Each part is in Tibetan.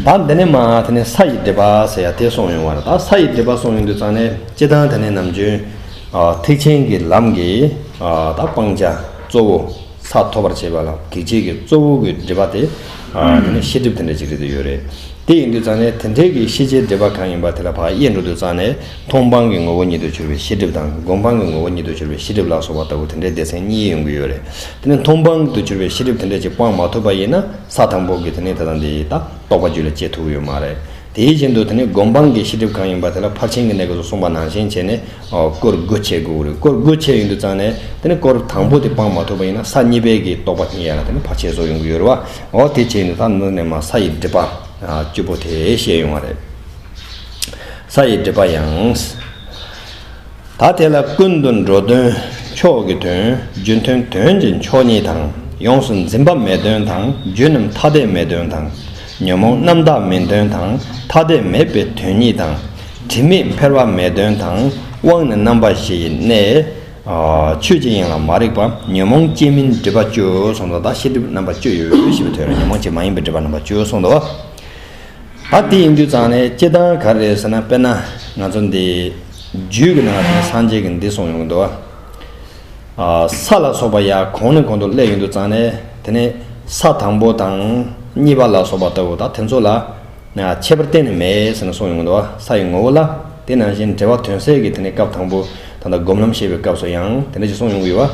དང། དེ་ནས་མ་དེ་ནས་ས་ཡི་སྒྲིབ་པ་ཟེར་ཡང་དེ་སོང་ཡོང་བ་རེད་ད་ས་ཡི་སྒྲིབ་པ་སོང་ཡོང་དུས་ཙང་ནས་སྤྱི་དང་དེ་ནས་ནམ་རྒྱུན། ཐེག་ཆེན་གྱི་ལམ་གྱི་ད་སྤང་བྱ་གཙོ་བོ་ས་ཐོབ་པར་བྱེད་པ་ལ་གེགས་བྱེད་ཀྱི་གཙོ་བོ་གི་སྒྲིབ་པ་དེ། དེ་ནས་ཤེས་སྒྲིབ་དེ་འདྲ་ཅིག་རེད་དེ་ཡོད་རེད། དེ་ཡིན་དུས་ཙང་ནས་དེ་འདྲའི་གི་ཤེས་བྱའི་སྒྲིབ་པ་གང་ཡིན་པ་དེ་ལ་བག་ཡས་འགྲོ་དུས་ཙང་ནས་མཐོང་སྤང་གི་ངོ་བོ་ཉིད་དུ་གྱུར་པའི་ཤེས་སྒྲིབ་དང་སྒོམ་སྤང་གི་ངོ་བོ་ཉིད་དུ་གྱུར་པའི་ཤེས་སྒྲིབ་ལ་སོགས་པ་ལྟ་བུ་དེ་འདྲའི་སྡེ་ཚན་གཉིས་ཡོང་གི་ཡོད་རེད་དེ་ནས་མཐོང་སྤང་དུ་གྱུར་པའི་ཤེས་སྒྲིབ་དེ་འདྲ་ཅིག་སྤང་མ་ཐུབ་པ་ཡིན་ན། ས་དང་པོ་གི་དེ་ནས་ད་ལྟ་འདི་ཡི་ད་རྟོགས་པ་རྒྱུད་ལ་སྐྱེ་ཐུབ་ཡོད་མ་རེད། དེའི་རྗེས་མདོ་དེ་ནས་སྒོམ་སྤང་གི་ཤེས་སྒྲིབ་གང་ཡིན་པ་དེ་ལ་ཕར་ཕྱིན་གྱི་གནད་གསུངས་པ་ནང་བཞིན་བྱས་ནས་བསྐོར་དགོད་བྱེད་དགོས་རེད་བསྐོར་དགོད་བྱེད་ཡོང་དུས་ཙང་ནས་དེ་ནས་བསྐོར་དང་པོ་དེ་སྤང་མ་ཐུབ་པ་ཡིན་ན་ས་གཉིས་པའི་གི་རྟོགས་པ་ཉིད་ཡལ་ན་དེ་ནས་བར་ཆད་བཟོ་ཡོང་གི་ཡོད་རེད་བ་འོ་དེ་བྱས་ནས་ད་འདི་ནས་མ་ས་ཡི་སྒྲིབ་པ་བཅུ་པོ་དེ་ཤེས་ཡོང་བ་རེད། ས་ཡི་སྒྲིབ་པ་ཡང། ད་དེ་ལ་ཀུན་དུ་འགྲོ་དོན་མཆོག་གི་དོན་རྒྱུ་མཐུན་དོན་གྱི་མཆོག་ཉིད་དང་ཡོངས་སུ་འཛིན་པ་མེད་དོན་དང་རྒྱུ་རྣམས་ཐ་དད་མེད་དོན་དང་ཉོན་མོངས་རྣམ་དག་མིན་དོན་དང་ཐ་དད་མེད་པའི་དོན་ཉིད་དང། དྲི་མེད་འཕེལ་བ་མེད་དོན་དང་དབང་ནི་རྣམ་པ་བཞི་ཡི་གནས། ཆོས་ཅན་ཡིན་ལ་མ་རིག་པ་ཉོན་མོངས་སྐྱེ་མིན་སྒྲིབ་པ་བཅུ་གསུམ་དང་དང་ཤེས་སྒྲིབ་རྣམ་པ་བཅུ་ཡོད་ཞེས་པའི་དོན་ལ་ཉོན་མོངས་ཅན་མ་ཡིན་པའི་སྒྲིབ་པ་རྣམ་པ་བཅུ་གསུམ་དང། ཨ་ཏི་ཡིན་དུས་ཙང་ནས་སྐྱིད་སྟངས་ག་རེ་རེད་ཟེར་ན་དཔེར་ན་ང་ཚོ་འདི་རྒྱུད་ཀྱི་ནང་དུ་སངས་རྒྱས་ཀྱི་འདི་གསུངས་ཡོང་གི་འདུག་ཨ། ས་ལ་སོགས་པ་ཡ་གོང་ནས་གོང་དུ་བསླད་ཡོང་དུས་ཙང་ནས་དེ་ནས་ས་དང་པོ་དང་གཉིས་པ་ལ་སོགས་པ་ལྟ་བུ་དང་དེ་ཚོ་ལ་ཁྱད་པར་གཏན་ནས་མེད་ཟེར་ནས་གསུངས་ཡོང་གི་འདུག་ས་ཡི་ངོ་བོ་ལ་དེ་ནང་བཞིན་འགྲེལ་བ་དོན་གསལ་གྱི་དེ་ནས་སྐབས་དང་པོ་ད་ལྟ་སྒོམ་ལམ་བཤད་པའི་སྐབས་སུ་ཡང་དེ་འདྲ་ཞིག་གསུངས་ཡོང་གི་ཡོད།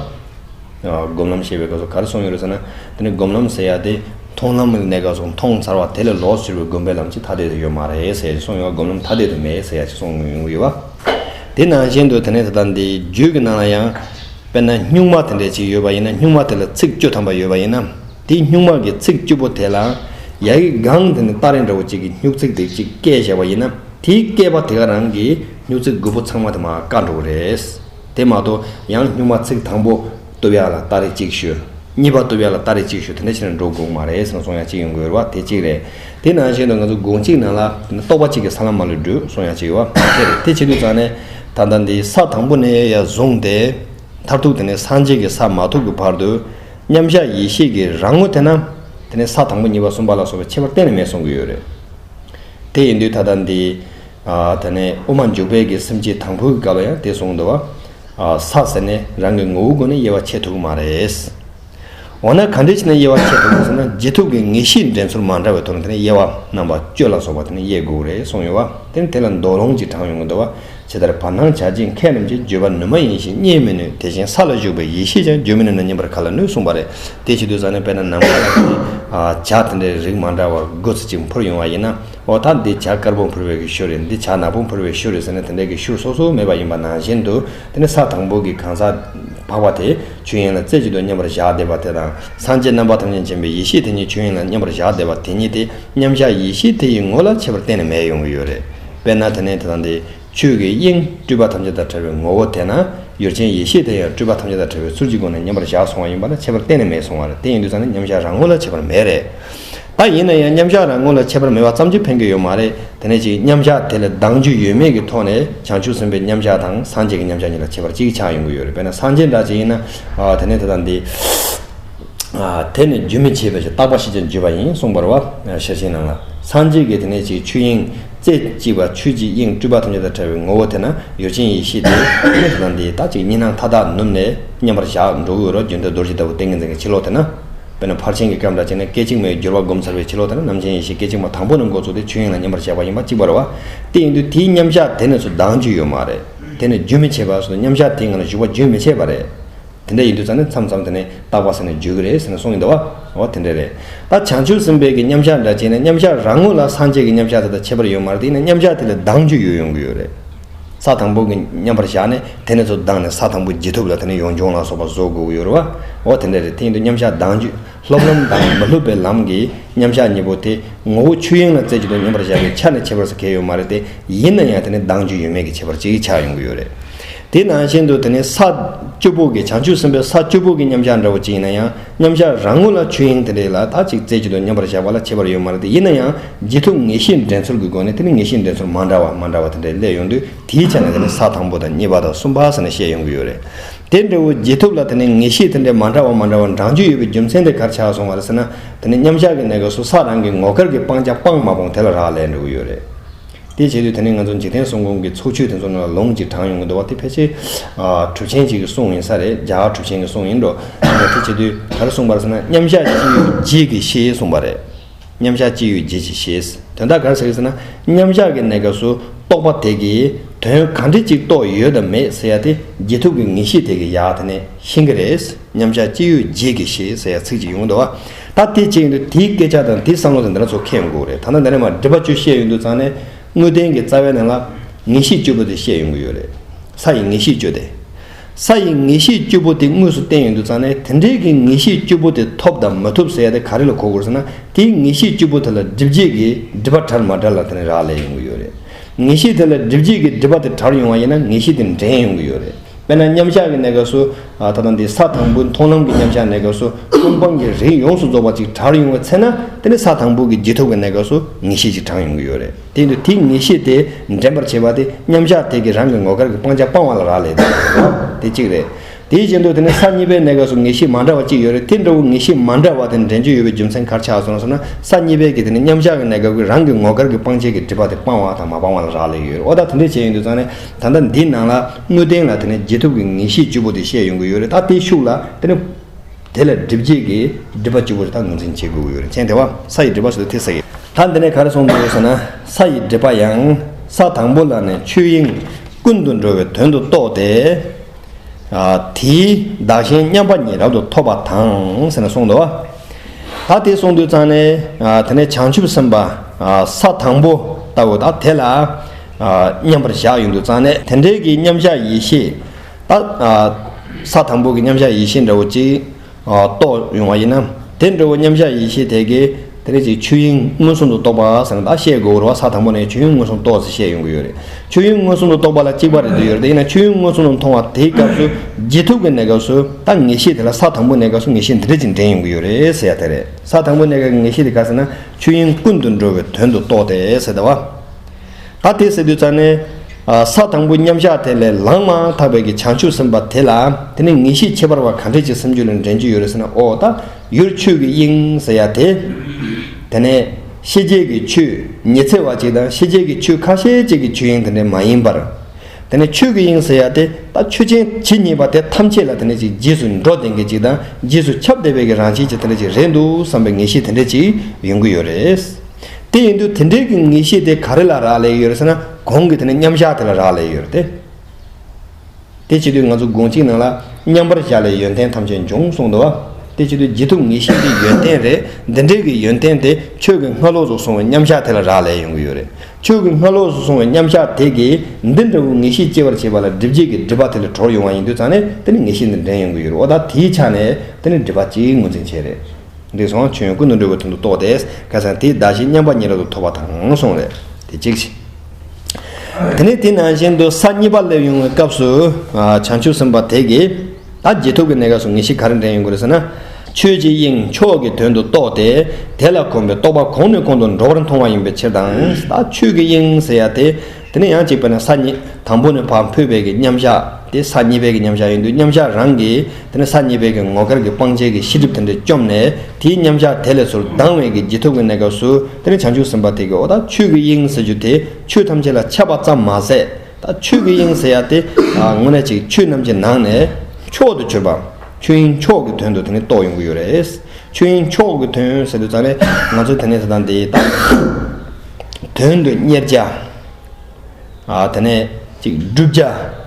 སྒོམ་ལམ་ཞེས་པའི་སྐབས་སུ་གར་སོང་ཡོད་རེད་ཟེར་ན། དེ་ནི་སྒོམ་ལམ་ཟེར་ཡ་དེ་མཐོང་ལམ་གནས་སྐབས་སུ་མཐོང་ཚར་བ་དེ་ལས་ལོགས་སུ་གྱུར་པའི་སྒོམ་པའི་ལམ་གཅིག་ཐ་དད་དུ་ཡོད་མ་རེད་ཟེར་ཡ་ཅིག་སོང་ཡོད་ཀ་སྒོམ་ལམ་ཐ་དད་དུ་མེད་ཟེར་ཡ་ཅིག་སོང་ཡོང་གི་ཡོད་པ། དེ་ནང་བཞིན་དུ་དེ་ནས་ད་ལྟ་འདི་རྒྱུད་ཀྱི་ནང་ལ་ཡང། དཔེར་ན་སྨྱུག་མ་དེ་འདྲ་ཅིག་ཡོད་པ་ཡིན་ན་སྨྱུག་མ་དེ་ལ་ཚིག་བཅུ་ཐམ་པ་ཡོད་པ་ཡིན་ན། དེའི་སྨྱུག་མ་གི་ཚིག་བཅུ་པོ་དེ་ལ། ཡ་ཡི་སྒང་དེ་ནི་སྟ་རེ་འདྲ་བོ་ཅིག་གི་སྨྱུག་ཚིག་དེ་གཅིག་བཀལ་བཞག་པ་ཡིན་ན་དེའི་བཀལ་པ་དེ་ག་རང་གི་སྨྱུག་ཚིག་དགུ་པོ་ཚང་མ་དེ་མ་བཀག་འགྲོ་གི་རེད། དེ་མ་གཏོགས་ཡང་སྨྱུག་མ་ཚིག་དང་པོ་ཏུ་བས་ལ་ཏཱ་རེ་ཅིག་ཞུ། གཉིས་པ་ཏུ་བས་ལ་ཏཱ་རེ་ཅིག་ཞུ་དེ་འདྲ་བྱས་ན་འགྲོ་དགོས་མ་རེད་སང་སོང་ཡང་ཅིག་ཡོང་དགོས་བ་དེ་གཅིག་རེད། དེ་ནང་བཞིན་དུ་ང་ཚོ་དགུང་གཅིག་ནང་ལ་དེ་ནི་རྟོགས་པ་གཅིག་གི་ས་ལམ་མ་ལུས་འགྲུལ་སོང་ཡང་ཅིག་ཡོང་བ་དེ་རེད་དེ་བྱེད་དུས་ཙང་ནས་ད་ལྟ་འདི་ས་དང་པོ་ནས་ཡ་བཟུང་སྟེ་མཐར་ཐུག་དེ་ནི་སངས་རྒྱས་ཀྱི་ས་མ་ཐོབ་ཀྱི་བར་དུ་མཉམ་བཞག་ཡེ་ཤེས་ཀྱི་རང་ངོ་དེ་ན་དེ་ནི་ས་དང་པོ་གཉིས་པ་གསུམ་པ་ལ་སོགས་པའི་ཁྱད་པར་གཏན་ནས་མེད་གསུང་གི་ཡོད་རེད། དེ་ཡིན་དུས་ད་ལྟ་འདི། དེ་ནས་དབུ་མ་འཇུག་པའི་གི་སེམས་ཀྱིས་དང་པོའི་གི་དགའ་བ་ཡང་དེ་གཟུང་འདུ་བ། ས་ཟེར་ནས་རང་གི་ངོ་བོའི་སྒོ་ནས་དབྱེ་བ་ཕྱེ་ཐུབ་ཀྱི་མ་རེད། འོ་ན་གང་འདྲའི་ཕྱིར་ན་དབྱེ་བ་ཕྱེ་ཐུབ་ཀྱི་ཟེར་ན་རྗེས་ཐོབ་ཀྱི་ངེས་ཤེས་འདྲེན་ཚུལ་མ་འདྲ་བའི་དོར་ནས་དེ་ནས་དབྱེ་བ་རྣམ་པ་གཅོད་ལ་སོགས་པ་དེ་ནས་དབྱེ་དགོས་རེད་གསུངས་ཡོད་བ། དེ་ནི་དེ་ལ་མདོ་ལུང་གཅིག་དྲངས་ཡོང་གི་འདུག་བ། ཇི་ལྟར་བར་སྣང་བྱ་བྱེད་མཁས་རྣམས་ཀྱིས་བརྗོད་པ་ནུས་མ་ཡིན་ཞིང་རྙེད་མི་ནུས་དེ་བཞིན་ས་ལ་བཞུགས་པའི་ཡེ་ཤེས་ཀྱང་བརྗོད་མི་ནུས་ན་རྙེད་པར་ག་ལ་ནུས་གསུངས་བ་རེད། དེའི་ཕྱིར་དུས་བཟང་ནས་དཔེར་ན་ནམ་མཁའ་ལ་དེ་ནས་བྱ་དེ་འདྲའི་རིགས་མ་འདྲ་བ་དགུ་ཚིག་ཅིག་འཕུར་ཡོང་བ་ཡིན་ན་འོ་ད་འདི་བྱ་དཀར་པོ་འཕུར་བའི་གི་ཤུ་རེད་འདི་བྱ་ནག་པོ་འཕུར་བའི་ཤུ་རེད་ཟེར་ན་དེ་འདྲའི་གི་ཤུ་སོ་སོ་མེད་པ་ཡིན་པ་ནང་བཞིན་དུ་དེ་ནི་ས་དང་པོ་གི་གང་ཟག་འཕགས་པ་དེ་ཆོས་དབྱིངས་ལ་རྩེ་གཅིག་ཏུ་མཉམ་པར་བཞག་བསྡད་པ་དེ་དང་སངས་རྒྱས་རྣམ་པ་ཐམས་ཅད་མཁྱེན་པའི་ཡེ་ཤེས་དེ་ཉིད་ཆོས་དབྱིངས་ལ་མཉམ་པར་བཞག་བསྡད་པ་དེ་ཉིད་དེ་མཉམ་བཞག་ཡེ་ཤེས་དེ་ཡི་ངོ་ལ་ཁྱད་པར་གཏན་ནས་མེད་ཡོང་གི་ཡོད་རེད་དཔེར་ན་དེ་ནས་དེ་དང་དེ་ཆོས་ཀྱི་དབྱིངས་སྤྲུལ་པ་ཐམས་ཅད་དང་བྲལ་བའི་ངོ་བོ་དེ་ན་ཡོད་ཅིང་ཡེ་ཤེས་དེ་ཡང་སྤྲུལ་པ་ཐམས་ཅད་དང་བྲལ་བའི་ཚུལ་གྱི་སྒོ་ནས་མཉམ་པར་བཞག་སོང་བ་ཡིན་པ་ལ་ཁྱད་པར་གཏན་ནས་མེད་གསུང་བ་རེད་དེ་ཡིན་དུས་ཙམ་ནས་མཉམ་བཞག་རང་ངོ་ལ་ཁྱད་པར་མེད་རེད། ད་ཡིན་ན་ཡང་མཉམ་བཞག་རང་ངོ་ལ་ཁྱད་པར་མེད་པ་ཙམ་གྱིས་ཕན་གྱི་ཡོད་མ་རེད་དེ་ནས་ཅིག་མཉམ་བཞག་དེ་ལས་ལྡང་རྒྱུ་ཡོད་མེད་ཀྱི་ཐོག་ནས་བྱང་ཆུབ་སེམས་དཔའི་མཉམ་བཞག་དང་སངས་རྒྱས་ཀྱི་མཉམ་བཞག་གཉིས་ལ་ཁྱད་པར་ཅིག་ཆགས་ཡོང་གི་ཡོད་རེད་དཔེར་ན་སངས་རྒྱས་འདྲ་ཅིག་ཡིན་ན་དེ་ནས་དེ་དང་འདི། དེ་ནི་རྒྱུན་མི་འཆད་པའི་རྟག་པ་ཞི་བྱེད་བརྗོད་པ་ཡིན་གསུངས་པར་བ་ཞལ་ཤེས་ནང་ལ། སངས་རྒྱས་ཀྱི་དེ་ནས་ཅིག་ཆུ་དབྱིངས་རྩེ་གཅིག་པ་ཆུ་གཅིག་དབྱིངས་སྤྲུལ་པ་ཐམས་ཅད་དང་བྲལ་བའི་ངོ་བོ་དེ་ན་ཡོད་ཅིང་ཡེ་ཤེས་དེ་ཉིད་དུ་ན་འདི་དག་ཅིག་གཉིས་སྣང་མཐའ་དག་ནུབ་ནས་མཉམ་པར་བཞག་འགྲོ་བའི་འོད་རོ་རྒྱུན་དུ་རྡོ་རྗེ་ལྟ་བུ་ཏིང་ངེ་འཛིན་གྱི་ཕྱི་ལོགས་དེ་ན། དཔེར་ན་ཕར་ཕྱིན་གྱི་སྐྱོན་དང་བཅས་ནས་སྐད་ཅིག་མའི་འགྱུར་བ་བསྒོམ་ཚར་བའི་ཕྱི་ལོགས་དེ་ན་རྣམ་མཁྱེན་ཡེ་ཤེས་སྐད་ཅིག་མ་དང་པོ་ནི་འགོ་ཚུགས་ཏེ་ཆུ་དབྱིངས་ལ་མཉམ་པར་བཞག་པ་ཡིན་པ་གཅིག་པར་བ་སྟེ་ཡིན་དུས་དེའི་མཉམ་བཞག་དེ་ནས་སུ་ལྡང་རྒྱུ་ཡོད་མ་རེད། དེ་ནི་རྒྱུན་མི་འཆད་པ་སོ་མཉམ་བཞག་དེའི་ངང་ལ་བཞུགས་པ་རྒྱུན་མི་འཆད་པ་རེད། དེ་འདྲ་ཡིན་དུས་ཙང་ནས་མཚམས་མཚམས་དེ་ནས་རྟག་པ་ཟེར་ནས་བརྗོད་ཀྱི་རེད་ཟེར་ནས་གསུངས་ཡོད་འདུག་བ། འོ་དེ་འདྲ་རེད། ད་བྱང་ཆུབ་སེམས་དཔའི་གི་མཉམ་གཞག་འདྲ་བྱས་ནས་མཉམ་གཞག་རང་ངོ་ལ་སངས་རྒྱས་ཀྱི་མཉམ་གཞག་དེ་དང་ཁྱད་པར་ཡོད་མར་དེ་ཡིན་ན་མཉམ་གཞག་དེ་ལས་ལྡང་རྒྱུ་ཡོད་ཡོང་གི་ཡོད་རེད། ས་དང་པོ་གི་མཉམ་པར་གཞག་ནས་དེ་ནས་ཚོ་ལྡང་ནས་ས་དང་པོ་བརྗེ་ཐུབ་ལ་དེ་ནས་ཡོངས་སྦྱོང་ལ་སོགས་པ་བཟོ་དགོས་ཀྱི་ཡོད་རེད་བ། འོ་དེ་འདྲ་རེད་དེ་ཡིན་དུས་མཉམ་གཞག་ལྡང་རྒྱུ་ལྷུབ་ལམ་དང་མི་ལྷུབ་པའི་ལམ་གྱི་མཉམ་གཞག་གཉིས་པོ་དེ་ངོ་བོ་ཆོས་དབྱིངས་ལ་བརྩད་རྒྱུ་དང་མཉམ་པར་གཞག་པའི་ཆ་ནས་ཁྱད་པར་ཟེར་གལ་ཡོད་མ་རེད་དེ་ཡིན་ན་ཡང་དེ་ནས་ལྡང་རྒྱུ་ཡོད་མེད་ཀྱི་ཁྱད་པར་ཅིག་ཆགས་ཡོང་གི་ཡོད་རེད། དེ་ནང་བཞིན་དུ་དེ་ནི་ས་བཅུ་པོ་གི་བྱང་ཆུབ་སེམས་དཔའི་ས་བཅུ་པོ་གི་མཉམ་གཞག་འདྲ་བོ་ཅི་ཡིན་ན་ཡང་མཉམ་གཞག་རང་ངོ་ལ་ཆོས་དབྱིངས་དེ་འདྲའི་ལ་དག་ཅིག་རྩེ་གཅིག་ཏུ་མཉམ་པར་གཞག་པ་ལ་ཁྱད་པར་ཡོད་མ་རེད་ཡིན་ན་ཡང་ཇི་ཐུབ་ངེས་ཤེས་འགྲན་ཚོར་གྱི་སྒོ་ནས་དེ་ནི་ངེས་ཤེས་འགྲན་ཚོར་མ་འདྲ་བ་མ་འདྲ་བ་དེ་འདྲའི་སླད་ཡོང་དུས་དེའི་ཆ་ནས་དེ་ནི་ས་དང་པོ་དང་གཉིས་པ་དང་གསུམ་པ་ཟེར་ནས་བཤད་ཡོང་གི་ཡོད་རེད། དེ་འདྲ་བོ་ཇི་ཐུབ་ལ་དེ་ནི་ངེས་ཤེས་དེ་འདྲའི་མ་འདྲ་བ་མ་འདྲ་བ་འབྲང་རྒྱུ་ཡོད་པའི་རྒྱུ་མཚན་དེ་གར་ཆགས་སོང་བ་རེད་ཟེར་ན་དེ་ནི་མཉམ་གཞག་གི་གནས་སྐབས་སུ་ས་རང་གི་ངོ་སྐལ་གྱི་སྤང་བྱ་སྤངས་མ་སྤོངས་དེ་ལ་རག་ལས་འགྲོ་གི་ཡོད་རེད། དེ་བྱེད་དུས་དེ་ནི་ང་ཚོ་འཇིག་རྟེན་སྲུང་ཁུངས་ཀྱི་ཚོགས་ཆོས་དེ་ཚོ་ནང་ལ་ལོངས་ཀྱིས་དྲངས་ཡོང་གི་འདུག་བ་དེ་ཕལ་ཆེར་གྲུབ་ཆེན་གཅིག་གི་གསུང་ཡིན་ས་རེད་རྒྱ་གར་གྲུབ་ཆེན་གྱི་གསུང་ཡིན་འགྲོ་དེ་བྱེད་དུས་ག་རེ་གསུངས་པར་ཟེར་ན་མཉམ་བཞག་ཅི་ཡོད་རྗེས་ཀྱི་ཤེས་གསུངས་པ་རེད། མཉམ་བཞག་ཅི་ཡོད་རྗེས་ཀྱི་ཤེས། དོན་དག་ག་རེ་ཟེར་ཟེར་ན་མཉམ་བཞག་གི་གནས་སྐབས་སུ་རྟོགས་པ་དེ་གིས་དོན་གང་འདྲི་གཅིག་རྟོགས་ཡོད་དམ་མེད་ཟེར་ཡ་དེ་རྗེས་ཐུབ་ཀྱི་ངེས་ཤེས་དེ་གིས་ཡ་དེ་ནས་ཤེས་ཀྱི་རེད། མཉམ་བཞག་ཅི་ཡོད་རྗེས་ཀྱི་ཞེས་ཟེར་ཡ་ཚིག་ཅིག་ཡོང་འདུག་བ། ད་དེ་བྱས་ཡོང་དུས་དེའི་སྐད་ཆ་དང་དེའི་བསམ་བློ་དེ་འདི་ན་ཚོ་ཁེངས་འགུག་རེད་ཐ་ན་འདི་ནས་མ་འདྲི་བ་ཅུ་བཤད་ཡོང་དུས་ཚང་ནས་དངོས་བསྟན་གྱི་རྩ་བའི་ནང་ལ། ངེས་ཤེས་བཅུ་པོ་དེ་བཤད་ཡོང་གི་ཡོད་རེད། ས་ཡི་ངེས་ཤེས་བཅུ་དེ། ས་ཡི་ངེས་ཤེས་བཅུ་པོ་དེ་དངོས་སུ་བསྟན་ཡོང་དུས་ཚང་ནས་དེ་འདྲའི་གི་ངེས་ཤེས་བཅུ་པོ་དེ་ཐོབ་དང་མ་ཐུབ་ཟེར་ཡ་དེ་ག་རེ་ལ་གོ་དགོས་ཟེར་ན་དེའི་ངེས་ཤེས་བཅུ་པོ་དེ་ལ་འདྲི་བརྗེད་ཀྱི་འདྲི་བ་དྲར་མ་དྲར་ལ་དེ་ནས་རག་ལས་ཡོང་གི་ཡོད་རེད། ངེས་ཤེས་དེ་ལ་འདྲི་བརྗེད་ཀྱི་འདྲི་བ་དེ་དྲར་ཡོང་བ་ཡིན་ན་ངེས་ཤེས་དེ་འདྲེན་ཡོང་གི་ཡོད་རེད། དཔེར་ན་མཉམ་གཞག་གི་གནས་སྐབས་སུ། ད་ལྟ་འདི་ས་དང་པོའི་མཐོང་ལམ་གྱི་མཉམ་གཞག་གནས་སྐབས་སུ་ཀུན་སྤངས་ཀྱི་རིགས་ཡོངས་སུ་རྫོགས་པ་ཅིག་གྲགས་ཡོང་བའི་ཚེ་ན་དེ་ནི་ས་དང་པོ་གི་རྗེས་ཐོབ་ཀྱི་གནས་སྐབས་སུ་ངེས་ཤེས་ཅིག་གྲགས་ཡོང་གི་ཡོད་རེད། དེ་ཡིན་དུས་དེའི་ངེས་ཤེས་དེ་འདྲེན་པར་བྱེད་པ་དེ་མཉམ་གཞག་དེ་གི་རང་གི་ངོ་སྐལ་གྱི་སྤང་བྱ་སྤང་བ་ལ་རག་ལས་ཏེ། དེ་གཅིག་རེད། དེའི་རྗེས་འདུག་དེ་ནི་ས་གཉིས་པའི་གནས་སྐབས་སུ་ངེས་ཤེས་མ་འདྲ་བ་གཅིག་ཡོད་རེད་དེ་འདྲ་བོ་ངེས་ཤེས་མ་འདྲ་བ་དེ་འདྲེན་རྒྱུ་ཡོད་པའི་རྒྱུ་མཚན་གར་ཆགས་སོང་ཟེར་ན་ས་གཉིས་པའི་གི་དེ་ནི་མཉམ་གཞག་གི་གནས་སྐབས་ཀྱི་རང་གི་ངོ་སྐལ་གྱི་སྤང་བྱེད་ཀྱི་སྒྲིབ་པ་དེ་སྤང་བ་དང་མ་སྤང་བ་ལ་རག་ལས་ཡོད་རེད་འོ་ད་དེ་འདྲའི་བྱས་ཡོད་འདུག་ཙང་ནི་ད་ལྟ་འདི་ནང་ལ། དངོས་བསྟན་ལ་དེ་ནས་རྗེས་ཐོབ་ཀྱི་ངེས་ཤེས་བཅུ་པོ་དེ་བཤད་ཡོང་གི་ཡོད་རེད་ད་དེ་ཤུགས་ལ་དེ་ནས་དེ་ལ་སྒྲིབ་བྱེད་ཀྱི་སྒྲིབ་པ་བཅུ་པོ་རེ་ད་ངོས་འཛིན་བྱེད་དགོས་ཀྱི་ཡོད་རེད་མཁྱེན་དེ་བ་ས་ཡི་སྒྲིབ་པ་སོགས་དེ་ཐེག་ས་ཡིན། ད་འདི་ནས་ག་རེ་གསུང་གི་ཡོད་ཟེར་ན་ས་ཡི་སྒྲིབ་པ་ཡང་ས་དང་པོ་ལ་ནས་ཆོས་དབྱིངས་ཀུན་ཏུ་འགྲོ་བའི་དོན་དུ་རྟོགས་ཏེ། དེའི་བདག་གཞན་མཉམ་པ་ཉིད་རབ་ཏུ་ཐོབ་པ་དང་ཟེར་ན་གསུང་དེ་བ། ད་དེ་གསུང་དུས་ཙང་ནས་དེ་ནས་བྱང་ཆུབ་སེམས་དཔའ་ས་དང་པོ་ལྟ་བུ་ད་དེ་ལ། མཉམ་པར་བཞག་ཡོད་འདུག་ཙང་ནས་དེ་འབྲེལ་གྱི་མཉམ་བཞག་ཡེ་ཤེས་ལྟ། ས་དང་པོ་གི་མཉམ་བཞག་ཡེ་ཤེས་འདྲ་བོ་གཅིག་རྟོགས་ཡོང་བ་ཡིན་ན། དེ་འདྲ་བོ་མཉམ་བཞག་ཡེ་ཤེས་དེ་གའི་དེ་རེ་ཅིག་ཆོས་དབྱིངས་མངོན་སུམ་དུ་རྟོགས་པ་ཟེར་ན་ཤེས་དགོས་རུང་བ་ས་དང་པོ་ནས་ཆོས་དབྱིངས་མངོན་སུམ་རྟོགས་ཟེར་བཤད་ཡོང་གི་ཡོད་རེད། ཆོས་དབྱིངས་མངོན་སུམ་དུ་རྟོགས་པ་ལ་གཅིག་པ་རེད་འདོད་ཡོད་རེད་དེ་ཡིན་ན་ཆོས་དབྱིངས་མངོན་སུམ་དུ་མཐོང་བ་དེའི་སྐབས་སུ་རྗེས་ཐོབ་ཀྱི་གནས་སྐབས་སུ་ད་ངེས་ཤེས་དེ་ལ་ས་དང་པོ་གནས་སྐབས་སུ་ངེས་ཤེས་འདི་རེ་ཅིག་འདྲེན་ཡོང་གི་ཡོད་རེད་ཟེར་ཡ་དེ་རེད། ས་དང་པོ་གནས་སྐབས་ཀྱི་ངེས་ཤེས་དེ་ག་ཟེར་ན་ཆོས་དབྱིངས་ཀུན་ཏུ་འགྲོ་བའི་དོན་དུ་རྟོགས་ཏེ་ཟེར་ཏེ་བ། ཨ་དེ་སེ་དུ་ཙ་ནི། ས་དང་པོ་མཉམ་གཞག་དེ་ལས་ལངས་མ་ཐག་པའི་ཀྱི་བྱང་ཆུབ་སེམས་དཔའ་དེ་ལ་དེ་ནི་ངེས་ཤེས་ཁྱད་པར་བ་གང་དྲིས་ཅིག་སེམས་རྒྱུད་ལ་འདྲེན་རྒྱུ་ཡོད་རེ་ཟེར་ན་ཨོ་ད་ཡུར་ཆོས་ཀྱི་དབྱིངས་ཟེར་ཡ་དེ། དེ་ནས་ཤེས་བྱེད་ཀྱི་ཆོས་ཉི་ཚེ་བ་ཅིག་དང་ཤེས་བྱེད་ཀྱི་ཆོས་ཁ་ཤས་ཅིག་གི་ཆོས་དབྱིངས་དེ་འདྲས་མ་ཡིན་པར། དེ་ནས་ཆོས་ཀྱི་དབྱིངས་ཟེར་ཡ་དེ་ད་ཆོས་ཅན་ཇི་སྙེད་པ་དེ་ཐམས་ཅད་ལ་དེ་འདྲས་ཅིག་རྗེས་སུ་འགྲོ་ལྡན་གྱི་ཅིག་དང་རྗེས་སུ་ཁྱབ་བདེ་བས་ཀྱི་རང་བཞིན་ཅིག་དེ་འདྲས་ཅིག་རེད་འདུག་བསམ་པའི་ངེས་ཤེས་དེ་འདྲས་ཅིག་ཡོང་གི་ཡོད་རེད། དེ་ཡིན་དུས་དེ་འབྲེལ་གྱི་ངེས་ཤེས་དེ་ག་རེ་ལ་རག་ལས་ཡོད་ཟེར་ན་གོང་གི་དེ་ནི་མཉམ་བཞག་དེ་ལ་རག་ལས་ཡོད་དེ། དེ་བྱེད་དུས་ང་ཚོ་དགོངས་གཅིག་ནང་ལ་མཉམ་པར་བཞག་ལས་ཡོན་ཏན་ཐམས་ཅད་འབྱུང་གསུངས་འདུག་བ། དེ་བྱེད་དུས་རྗེས་ཐོབ་ངེས་ཤེས་དེ་ཡོན་ཏན་རེད་དེ་འབྲེལ་གྱི་ཡོན་ཏན་དེ་ཆོས་ཀྱི་སྔ་ལོགས་སུ་སོང་བའི་མཉམ་བཞག་དེ་ལ་རག་ལས་ཡོང་གི་ཡོད་རེད། ཆོས་ཀྱི་སྔ་ལོགས་སུ་སོང་བའི་མཉམ་བཞག་དེ་གིས་འདི་འདྲ་བོའི་ངེས་ཤེས་སྐྱེ་བར་བྱེད་པ་ལ་སྒྲིབ་བྱེད་ཀྱི་སྒྲིབ་པ་དེ་ལས་གྲོལ་ཡོང་བ་ཡིན་དུས་ཙང་ནས་དེ་ནི་ངེས་ཤེས་འདི་འདྲེན་ཡོང་གི་ཡོད་རེད་འོ་ད་དེའི་ཆ་ནས་དེ་ནི་སྒྲིབ་པ་གཅིག་ངོས་འཛིན་བྱེད་རེད། འདི་གསང་ཆོས་ཀུན་ཏུ་འགྲོ་བའི་དོན་དུ་གཏོགས་ཏེ་སྐལ་བཟང་དེའི་བདག་བཞི་མཉམ་པ་གཉིས་རབ་ཏུ་ཐོབ་པ་དང་གསུངས། རེད་དེ་གཅིག། དེ་ནས་དེ་ནང་བཞིན་དུ་ས་གཉིས་པ་སླེབ་ཡོང་བའི་སྐབས་སུ། བྱང་ཆུབ་སེམས་དཔའ་དེས་ཀྱི། ད་རྗེས་ཐོབ་ཀྱི་གནས་སྐབས་སུ་ངེས་ཤེས་ག་རེ་འདྲེན་ཡོང་གི་རེད་ཟེར་ན། ཆོས་ཀྱི་དབྱིངས་མཆོག་གི་དོན་དུ་གཏོགས་ཏེ། དེ་ལ་གོམས་པའི་རྟོག་པ་གོང་ནས་གོང་དུ་འགྲོ་བར་མཐོང་བ་ཡིན་པའི་ཕྱིར་དང། ད་ཆོས་ཀྱི་དབྱིངས་ཟེར་ཡ་དེ། དེ་ནས་ཡང་གཅིག་པ་ནི་ས་གཉིས་དང་པོ་ནི་བར་འཕུད་བད་ཀྱི་མཉམ་གཞག་དེ་ས་གཉིས་བད་ཀྱི་མཉམ་གཞག་ཡིན་དུས་མཉམ་གཞག་རང་གིས་དེ་ནས་ས་གཉིས་བད་ཀྱི་ངོ་སྐལ་གྱི་སྤང་བྱེད་ཀྱི་ཤེས་སྒྲིབ་དེ་འདྲ་བཅོམ་ནས་དེའི་མཉམ་གཞག་དེ་ལས་ཚུར་ལྡང་བས་ཀྱི་རྗེས་ཐོབ་ཀྱི་གནས་སྐབས་སུ་དེ་ནས་བྱང་ཆུབ་སེམས་དཔའ་དེ་ཀའོ་ད་ཆོས་ཀྱི་དབྱིངས་ཟེར་རྒྱུ་དེ་ཆོས་ཐམས་ཅད་ལ་ཁྱབ་པ་ཙམ་མ་ཟད་ད་ཆོས་ཀྱི་དབྱིངས་ཟེར་ཡ་དེ་དངོས་གནས་ཅིག་ཆོས་རྣམས་ཀྱི་ནང་ནས་མཆོག་ཏུ་གྱུར་པ་ཆོས་དབྱིངས་མཆོག་གི་དོན་དུ་དེ་ནས་རྟོགས་ཡོང་གི་ཡོད་རེད། ཆོས་དབྱིངས་མཆོག་གི་དོན་ཟེར་དུས་ཙང་ནས་ང་ཚོ་དེ་ནས་དེ་དང་འདི་དང། དོན་དུ་གཉེར་བྱ། དེ་ནས་ཅིག་བསྒྲུབ་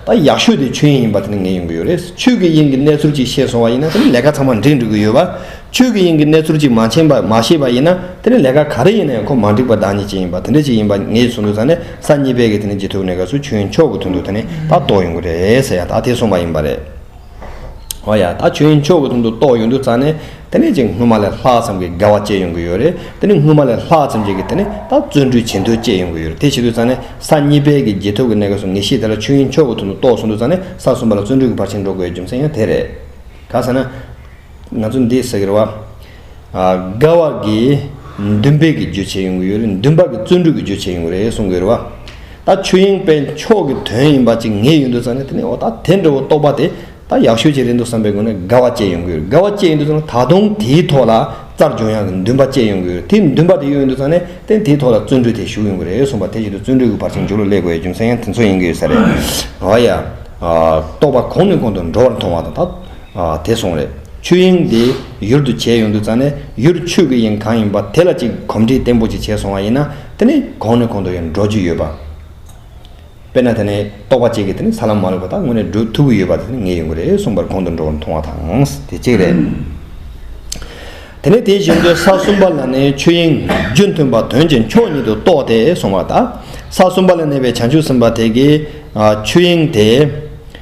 བྱ། ད་ཡག་ཤོས་དེ་ཆོས་དབྱིངས་ཡིན་པ་དེ་ནི་ངེས་ཡོང་གི་ཡོད་རེད། ཆོས་ཀྱི་དབྱིངས་ཀྱི་གནས་ཚུལ་ཅིག་ཤེས་སོང་བ་ཡིན་ན་དེ་ནི་ལས་ཀ་ཚང་མ་འགྲིག་འགྲོ་གི་ཡོད། ཆོས་ཀྱི་དབྱིངས་ཀྱི་གནས་ཚུལ་ཅིག་མ་མཁྱེན་པ་མ་ཤེས་པ་ཡིན་ན་དེ་ནི་ལས་ཀ་ག་རེ་ཡིན་ན་ཡང་ཁོ་མ་འགྲིག་པ་བདག་ཉིད་ཅིག་ཡིན་པ་དེ་འདྲ་ཅིག་ཡིན་པ་ངས་ཟུར་འདུག་ས་ནས་ས་གཉིས་པས་ཀྱི་དེ་ནི་ཇེ་ཐུག་ནས་ཀ་སུ་ཆོས་དབྱིངས་མཆོག་གི་དོན་དུ་དེ་ནི་ད་རྟོགས་ཡོང་གི་རེད་ཟེར་ཡང་ད་དེ་གསུངས་པ་ཡིན་པ་རེད། ཨོ་ཡ། ད་ཁྱོད་ཡིན་ཆོག་གི་དོན་དུ་རྟོགས་ཡོང་དུས་ཙང་ནས་དེ་ནས་ཅིག་སྔོན་མ་ལས་ལྷག་ཙམ་གྱི་དགེ་བ་སྤྱད་ཡོང་གི་ཡོད་རེད་དེ་ནས་སྔོན་མ་ལས་ལྷག་ཙམ་ཅིག་གིས་དེ་ནས་ད་བརྩོན་འགྲུས་ཇེ་མཐོའི་སྤྱད་ཡོང་གི་ཡོད་རེད་དེ་བྱེད་དུས་ཙང་ནས་ས་གཉིས་པའི་གི་རྗེས་ཐོབ་ཀྱི་གནད་ཀ་སོ་ངེས་ཤེས་དེ་ལ་ཁྱོད་ཡིན་ཆོག་གི་དོན་དུ་རྟོགས་སོང་དུས་ཙང་ནས་ས་གསུམ་པ་ལ་བརྩོན་འགྲུས་ཀྱི་བར་ཕྱིན་འགྲོ་དགོས་པའི་རྒྱུ་མཚན་ཡང་དེ་རེད། ག་ས་ན། ང་ཚོ་འདི་ཟེར་བ། དགའ་བ་གི་འདུན་པས་ཀྱི་རྗོད་བྱེད་ཡོང་གི་ཡོད། འདུན་པ་གི་བརྩོན་འགྲུས་ཀྱི་རྗོད་བྱེད་ཡོང་གི་རེད་གསུང་གི་ཡོད་པ། ད་ཆོས་དབྱིངས་དཔལ་མཆོག་གི་དོན་ཡིན་པ་ཅིག་ངེས་ཡོད་འདུག་ཙང་ནས་དེ་ནས་འོ་ད་དེ་འདྲ་བོ་རྟོགས་པ་དེ་ད་ཡག་ཤོས་ཅིག་རེད་འདུག་བསམ་པའི་སྒོ་ནས་དགའ་བ་སྐྱེས་ཡོང་གི་ཡོད། དགའ་བ་སྐྱེས་ཡོད་འདུག་ཙང་ནས་ད་དུང་དེའི་ཐོག་ལ་རྩར་སྦྱོང་ཡག་གི་འདུན་པ་སྐྱེས་ཡོང་གི་ཡོད། དེ་འདུན་པ་དེ་ཡོད་འདུག་ཙང་ནས་དེ་དེའི་ཐོག་ལ་བརྩོན་འགྲུས་དེ་ཞུགས་ཡོང་གི་རེད་གསུང་པ་དེ་བཞིན་དུ་བརྩོན་འགྲུས་ཀྱི་བར་ཆད་འཇུག་ལ་སླེབས་དགོས་ཡ་རྒྱུ་མཚན་ཡང་དེ་ཚོ་ཡིན་གི་ཡོད་ས་རེད། ཨོ་ཡ། རྟོགས་པ་གོང་ནས་གོང་དུ་འགྲོ་བར་མཐོང་བ་དང་ད། དེ་སོང་རེད་ཆོས་དབྱིངས་དེ་ཡུར་དུ་བྱས་ཡོང་དུས་ཙང་ནས་ཡུར་ཆོས་ཀྱི་དབྱིངས་གང་ཡིན་པ་དེ་ལ་ཅིག་གོམས་འདྲིས་བརྟན་པོ་ཅིག་བྱས་སོང་བ་ཡིན་ན་དེ་ནི་གོང་ནས་གོང་དུ་ཡང་འགྲོ་རྒྱུ་ཡོད་པ། དཔེར་ན་དེ་ནི་རྟོགས་པ་གཅིག་གིས་དེ་ནི་ས་ལམ་མ་ལུས་པ་དག་དངོས་གནས་འགྲོ་ཐུབ་ཀྱི་ཡོད་པ་དེ་ནི་ངེས་ཡོང་གི་རེད་གསུངས་པར་གོང་དུ་འགྲོ་བར་མཐོང་བ་དང་དེ་གཅིག་རེད། དེ་ནས་དེ་བཞིན་དུ་ས་གསུམ་པ་ལ་ནི་ཆོས་དབྱིངས་རྒྱུ་མཐུན་པ་དོན་གྱི་མཆོག་ཉིད་དུ་རྟོགས་ཏེ་སོང་བ་དང་ས་གསུམ་པ་ལ་གནས་པའི་བྱང་ཆུབ་སེམས་དཔའ་དེ་གིས་ཆོས་དབྱིངས་དེ།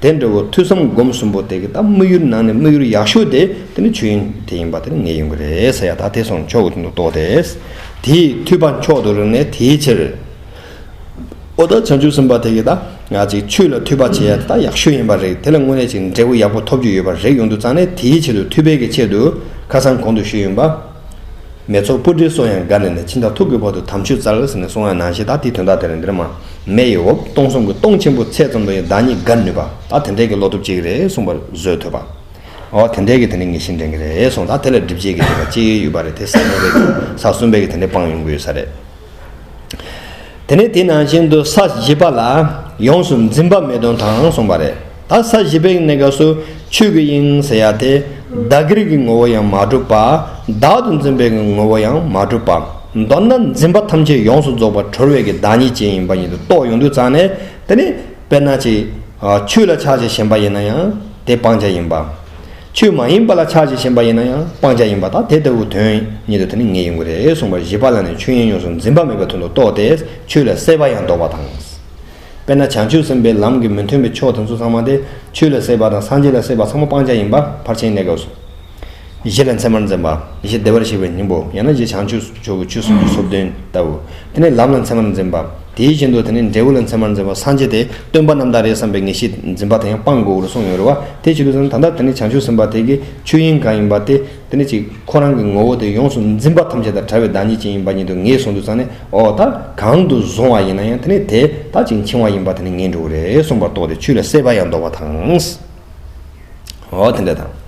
དེ་འདྲ་བོ་ཐོས་བསམ་སྒོམ་གསུམ་པོ་དེ་གི་ད་དམིགས་ཡུལ་ནང་ནས་དམིགས་ཡུལ་ཡག་ཤོས་དེ་དེ་ནི་ཆོས་དབྱིངས་དེ་ཡིན་པ་དེ་ངེས་ཡོང་གི་རེད་ས་ཡ་ད་དེ་སོང་ཆོག་གི་འདུག་རྟོགས་དེ། དེ་འཐུས་པ་མཆོག་ཏུ་རིག་ནས་དེའི་ཕྱིར། ཨོ་ད་བྱང་ཆུབ་སེམས་དཔའ་དེ་གི་ད་ང་ཅིག་ཆོས་ལ་འཐུས་པ་བྱེད་ཡ་དེ་ད་ཡག་ཤོས་ཡིན་པ་རེད་དེ་ལ་དངོས་གནས་ཅིག་འབྲས་བུ་ཡག་པོ་ཐོབ་རྒྱུ་ཡོད་པ་རེད་ཡོང་དུ་རྩ་ནས་དེའི་ཆེད་དུ་འཐུས་པའི་གི་ཆེད་དུ་ཁ་སང་གོང་དུ་ཞུས་ཡོང་པ། མེ་ཚོགས་སྤུ་གྲིའི་སོ་ཡང་འགའ་ནས་ནས་ཕྱིན་དང་ཐུག་གི་བར་དུ་དམ་ཆོས་རྩ་བའི་ཟིན་ནས་སོང་ཡང་ནང་ཤེས་དག་དེའི་དོན་དག་དེ་རེད་འདིར་མ། མེ་ཡི་འོབས་སྟོང་གསུམ་གྱི་སྟོང་ཆེན་པོ་ཚད་ཙམ་དུ་ཡང་བདག་ཉིད་དགར་ནུས་པ་དག་དེ་འདྲའི་གི་བློ་སྟོབས་ཅིག་རེད་གསུངས་པར་བཟོད་ཐོས་པ། འོ་དེ་འདྲའི་གི་དེ་འདྲའི་ངེས་ཤེས་འདྲེན་གི་རེད་གསུངས་དང་དེ་ལ་སྒྲིབ་བྱེད་ཀྱི་དེ་འདྲ་ཅིག་ཡོད་པ་རེད་དེ་ས་གསུམ་པའི་གི་ས་གསུམ་པའི་གི་དེ་འདྲའི་སྤང་ཡོང་གི་ཡོད་ས་རེད། དེ་ནས་དེ་ནང་བཞིན་དུ་ས་བཞི་པ་ལ། ཡོངས་སུ་འཛིན་པ་མེད་དོན་དང་གསུངས་པ་རེད། ད་ས་བཞི་པའི་གནས་སྐབས་སུ་ཆོས་ཀྱི་དབྱིངས་ཟེར་ཡ་དེ་བདག་གིར་གྱི་ངོ་བོ་ཡང་མ་གྲུབ་པ་བདག་ཏུ་འཛིན་པའི་ངོ་བོ་ཡང་མ་གྲུབ་པ་མདོར་ན་འཛིན་པ་ཐམས་ཅད་ཡོངས་སུ་རྫོགས་པར་གྲོལ་བས་ཀྱི་བདག་ཉིད་ཅན་ཡིན་པ་ཉིད་དུ་རྟོགས་ཡོང་དུས་ཙང་ནས་དེ་ནི་དཔེར་ན་ཅིག་ཆོས་ལ་ཆགས་ཅིང་ཞེན་པ་ཡིན་ན་ཡང་དེ་སྤང་བྱ་ཡིན་པ། ཆོས་མ་ཡིན་པ་ལ་ཆགས་ཅིང་ཞེན་པ་ཡིན་ན་ཡང་སྤང་བྱ་ཡིན་པ་དག་དེ་ལྟ་བུའི་དོན་ཉིད་དུ་དེ་ནི་ངེས་ཡིན་དགོས་རེ་ཟུང་བར་བཞི་པ་ལ་ནི་ཆོས་དབྱིངས་ཡོངས་སུ་འཛིན་པ་མེད་པའི་དོན་དུ་རྟོགས་ཏེ་ཆོས་ལ་སྲེད་པ་ཡང་བཟློག་པ་དང། དཔེར་ན་བྱང་ཆུབ་སེམས་དཔའི་ལམ་གྱི་མི་མཐུན་པའི་ཕྱོགས་དེ་ཚོ་ཚང་མ་སྟེ་ཆོས་ལ་སྲེད་པ་དང་སངས་རྒྱས་ལ་སྲེད་པ་ཚང་མ་སྤང་བྱ་ཡིན་པ་ཕར་ཕྱིན་གནས་སྐབས་སུ། གཞི་ལ་མཚན་མར་འཛིན་པ། གཞི་བདེ་བར་གཤེགས་པའི་སྙིང་པོ་ཡང་ན་གཞི་བྱང་ཆུབ་ཆོས་ཀྱི་ཆོས་སུམ་ཅུ་སོ་བདུན་ལྟ་བུ། དེ་ནས་ལམ་ལ་མཚན་མར་འཛིན་པ། དེའི་བཞིན་དུ་དེ་ནས་འབྲས་བུ་ལ་མཚན་མར་འཛིན་པ་སངས་རྒྱས་དེས་སྟོན་པ་རྣམས་དང་རེ་བསམ་པའི་ངེས་ཤེས་འཛིན་པ་དེ་ཡང་སྤང་དགོས་པར་གསུངས་ཡོད་རེད་བ་དེ་ཕྱིར་དུ་ཟིན་དང་ད་ལྟ་དེ་ནས་བྱང་ཆུབ་སེམས་དཔའ་དེ་གི་ཆོས་དབྱིངས་གང་ཡིན་པ་དེ་དེ་ནི་གཅིག་ཁོ་རང་གི་ངོ་བོ་དེ་ཡོངས་སུ་འཛིན་པ་ཐམས་ཅད་དང་བྲལ་བའི་བདག་ཉིད་ཅན་ཡིན་པ་ཉིད་དུ་ངེས་བཟུང་དུ་བཅངས་ནས་འོ་ད་གང་དུ་བཟུང་བ་ཡིན་ན་ཡང་དེ་ནི་དེ་ལྟ་ཅིག་འཆིང་བ་ཡིན་པ་དེ་ནི་ངེས་འགྲོ་རེ་གསུངས་པར་རྟོགས་ཏེ་ཆུ་ལ་སྲེད་པ་ཡང་འདོར་བ་དང། འོ་དེ་འདྲ་དང།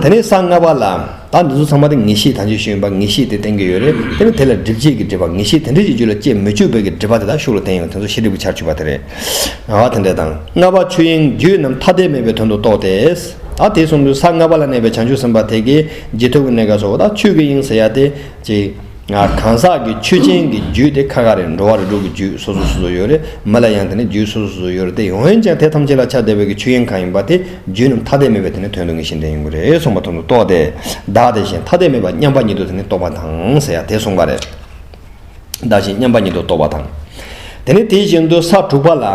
དེ་ནི་ས་ལྔ་པ་ལ། ད་འདི་ཚོ་ཚང་མ་དེ་ངེས་ཤེས་དང་བཅས་ཤེས་ཡོན་པ་ངེས་ཤེས་དེ་བསྟན་གྱི་ཡོད་རེད་དེ་ནི་དེ་ལ་སྒྲིབ་བྱེད་ཀྱི་སྒྲིབ་པ་ངེས་ཤེས་དེ་འདྲ་ཞིག་རྒྱུད་ལ་སྐྱེ་མི་བཅུག་པའི་ཀྱི་སྒྲིབ་པ་དེ་དག་ཤུགས་ལ་བསྟན་ཡོང་དེ་ཚོ་ཤེས་སྒྲིབ་ཀྱི་ཆར་ཆུད་པ་དེ་རེད། ང་བ་དེ་འདྲ་དང། ལྔ་པ་ཆོས་དབྱིངས་རྒྱུད་རྣམས་ཐ་དད་མེད་པའི་དོན་དུ་རྟོགས་ཏེ། ཨ་དེ་གསུམ་དུ་ས་ལྔ་པ་ལ་གནས་པའི་བྱང་ཆུབ་སེམས་དཔའ་དེ་གའི་རྗེས་ཐོབ་ཀྱི་གནས་སྐབས་སོགས་དང་ཆོས་ཀྱི་དབྱིངས་ཟེར་ཡ་དེ་གཅིག། གང་ཟག་གི་ཆོས་ཅན་གྱི་རྒྱུད་དེ་ཁ་ཁ་རེད་འགྲོ་བ་རེ་དྲུག་གི་རྒྱུད་སོ་སོ་སོ་སོ་ཡོད་རེད་མི་ལ་ཡང་དེ་ནས་རྒྱུད་སོ་སོ་སོ་སོ་ཡོད་རེད་དེ་འོན་ཀྱང་དེ་ཐམས་ཅད་ལ་ཆ་བདེ་བས་ཀྱི་ཆོས་དབྱིངས་གང་ཡིན་པ་དེ་རྒྱུད་རྣམས་ཐ་དད་མེད་པའི་དེ་ནི་དོན་དུ་ངེས་ཤེས་ལྡན་ཡིན་དགོས་རེད་གསུངས་པ་དོན་དུ་རྟོགས་ཏེ། བདག་དེ་བཞིན་ཐ་དད་མེད་པ་མཉམ་པ་ཉིད་དུ་དེ་ནི་རྟོགས་པ་དང་ཟེར་ཡ་དེ་གསུངས་པ་རེད། བདག་གཞན་མཉམ་པ་ཉིད་དུ་རྟོགས་པ་དང། དེ་ནས་དེ་བཞིན་དུ་ས་དྲུག་པ་ལ།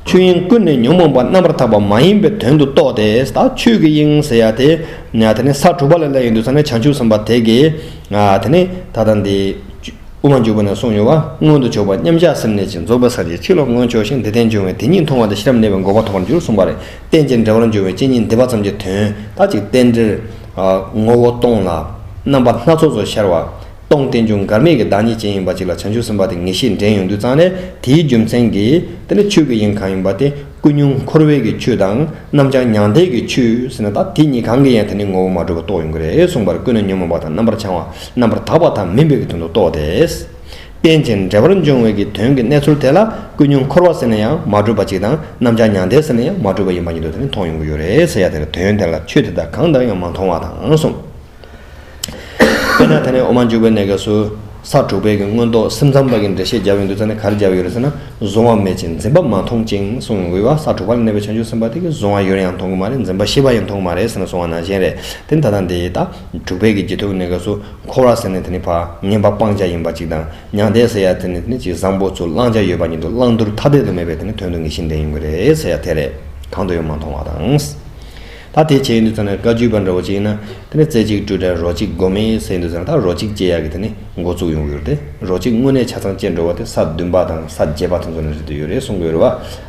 ཆོས་དབྱིངས་ཀུན་ནས་ཉོན་མོངས་པ་རྣམ་པར་དག་པ་མ་ཡིན་པའི་དོན་དུ་རྟོགས་ཏེ་ད་ཆོས་ཀྱི་དབྱིངས་ཟེར་ཡ་དེ། དེ་ནས་ས་དྲུག་པ་ལ་ལས་ཡིན་དུ་ས་ནི་བྱང་ཆུབ་སེམས་དཔའ་དེ་ཀྱི། དེ་ནི་ད་ལྟ་འདི། དབུ་མ་འཇུག་པ་ནས་གསུངས་ཡོད་པ་མངོན་དུ་ཕྱོགས་པ་མཉམ་གཞག་སེམས་གནས་ཀྱིས་རྫོགས་པའི་ས་ཅིག་ཕྱིར་ལོག་མངོན་ཕྱོགས་ཤིང་འདི་རྟེན་འབྱུང་བས་དེ་ཉིད་མཐོང་བ་དང་ཤེས་རབ་གནས་པའི་འགོག་པ་ཐོབ་པར་འགྱུར་གསུངས་པ་རེ་རྟེན་ཅིང་འབྲེལ་བར་འབྱུང་བའི་སྤྱི་ཉིད་འདི་པ་ཙམ་གྱི་དོན་དག་ཅིག་རྟེན་འབྲེལ། ངོ་བོ་སྟོང་ལ། རྣམ་པ་སྣ་ཚོགས་སུ་ཤར་བ། སྟོང་རྟེན་འབྱུང་འགག་མེད་ཀྱི་བདག་ཉིད་ཅན་ཡིན་པ་ཅིག་ལ་བྱང་ཆུབ་སེམས་དཔའ་དེ་ངེས་ཤེས་འདྲེན་ཡོང་དུས་ཙང་ནས་དེའི་རྒྱུ་མཚན་གྱིས་དེ་ནི་ཆོས་ཀྱི་དབྱིངས་གང་ཡིན་པ་དེ་ཀུན་ཉུང་འཁོར་བས་ཀྱི་ཆོས་དང་རྣམ་བྱང་མྱང་འདས་ཀྱི་ཆོས་ཟིན་ན་ད་དེ་གཉིས་གང་གི་ཡང་དེ་ནི་ངོ་བོ་མ་གྲུབ་པ་རྟོགས་ཡོང་གི་རེད་གསུངས་པར་ཀུན་ན་ཉོན་མོངས་པ་དང་རྣམ་པར་བྱང་བ་རྣམ་པར་དག་པ་དག་མིན་པའི་གྱི་དོན་དུ་རྟོགས་ཏེ། རྟེན་ཅིང་འབྲེལ་བར་འབྱུང་བའི་གྱི་དོན་གྱི་གནས་ཚུལ་དེ་ལ་ཀུན་ཉུང་འཁོར་བ་ཟིན་ན་ཡང་མ་གྲུབ་པ་ཅིག་དང་རྣམ་བྱང་མྱང་འདས་ཟིན་ན་ཡང་མ་གྲུབ་པ་ཡིན་པ་ཉིད་དུ་དེ་ནི་མཐོང་ཡོང་གི་ཡོད་རེད་ཟེར་ཡ་དེར་དོན་དེ་ལ་ཆོས་དེ་དག་གང་ལྟར་ཡང་མ་མཐོང་བ་དང་གསུངས། དཔེར་ན་ད་ནི་འོ་མ་འཇུག་པའི་གནས་སྐབས་སུ། ས་དྲུག་པའི་གི་མངོན་རྟོགས་སེམས་ཙམ་པ་གི་འགྲེལ་བཤད་རྒྱབ་ཡོད་འདུག་ཙང་ནི་གར་རྒྱབ་ཡོད་རེད་ཟེར་ན་གཟུང་བ་མེད་ཅིང་འཛིན་པ་མ་མཐོང་ཅིང་གསུང་ཡོང་གི་བ་ས་དྲུག་པ་ལ་གནས་པའི་བྱང་ཆུབ་སེམས་དཔའ་དེ་གི་གཟུང་བ་ཡོད་ཡང་མཐོང་གི་མ་རེད་འཛིན་པ་ཤེས་པ་ཡང་མཐོང་གི་མ་རེད་ཟེར་ན་གཟུང་བ་ནང་བཞིན་རེད་དེ་ད་ལྟ་འདི་ད་དྲུག་པའི་གི་རྗེས་ཐོབ་གནས་སྐབས་སུ་འཁོར་བ་ཟེར་ནི་དེ་ནི་བ་ངན་པ་སྤང་བྱ་ཡིན་པ་གཅིག་དང་མྱང་འདས་ཟེར་ཡ་དེ་ནི་དེ་ནི་གཅིག་བཟང་པོ་ཚུར་བླང་བྱ་ཡོད་པ་ཉིད་དུ་བླང་དུར་ཐ་དད་དུ་མེད་པའི་དེ་ནི་དོན་དུ་ངེས་ཤིང་བདེན་ཡིན་གི་རེད་ཟེར་ཡ་དེ་རེད་གང་དུ་ཡོད་མ་མཐོང་བ་དང། ད་དེ་བྱེད་ཀྱི་འདུག་ཚར་ནས་བཀའ་བརྒྱུད་པ་འདྲ་བོ་ཅིག་ཡིན་ན་དེ་ནས་རྩེ་གཅིག་སྤྲོས་བྲལ་རོ་གཅིག་སྒོམ་མེད་ཟེར་གྱི་འདུག་ཚར་ན་ད་རོ་གཅིག་ཅེས་ཡག་གི་དེ་ནི་འགོ་བཙུགས་ཡོང་གི་ཡོད་རེད་དེ་རོ་གཅིག་དངོས་གནས་ཆ་ཚང་བཅད་འགྲོ་བ་དེ་ས་བདུན་པ་དང་ས་བརྒྱད་པ་དེ་ཚོ་ནས་རེད་འདོད་ཡོད་རེད་གསུང་གི་ཡོད་རེད་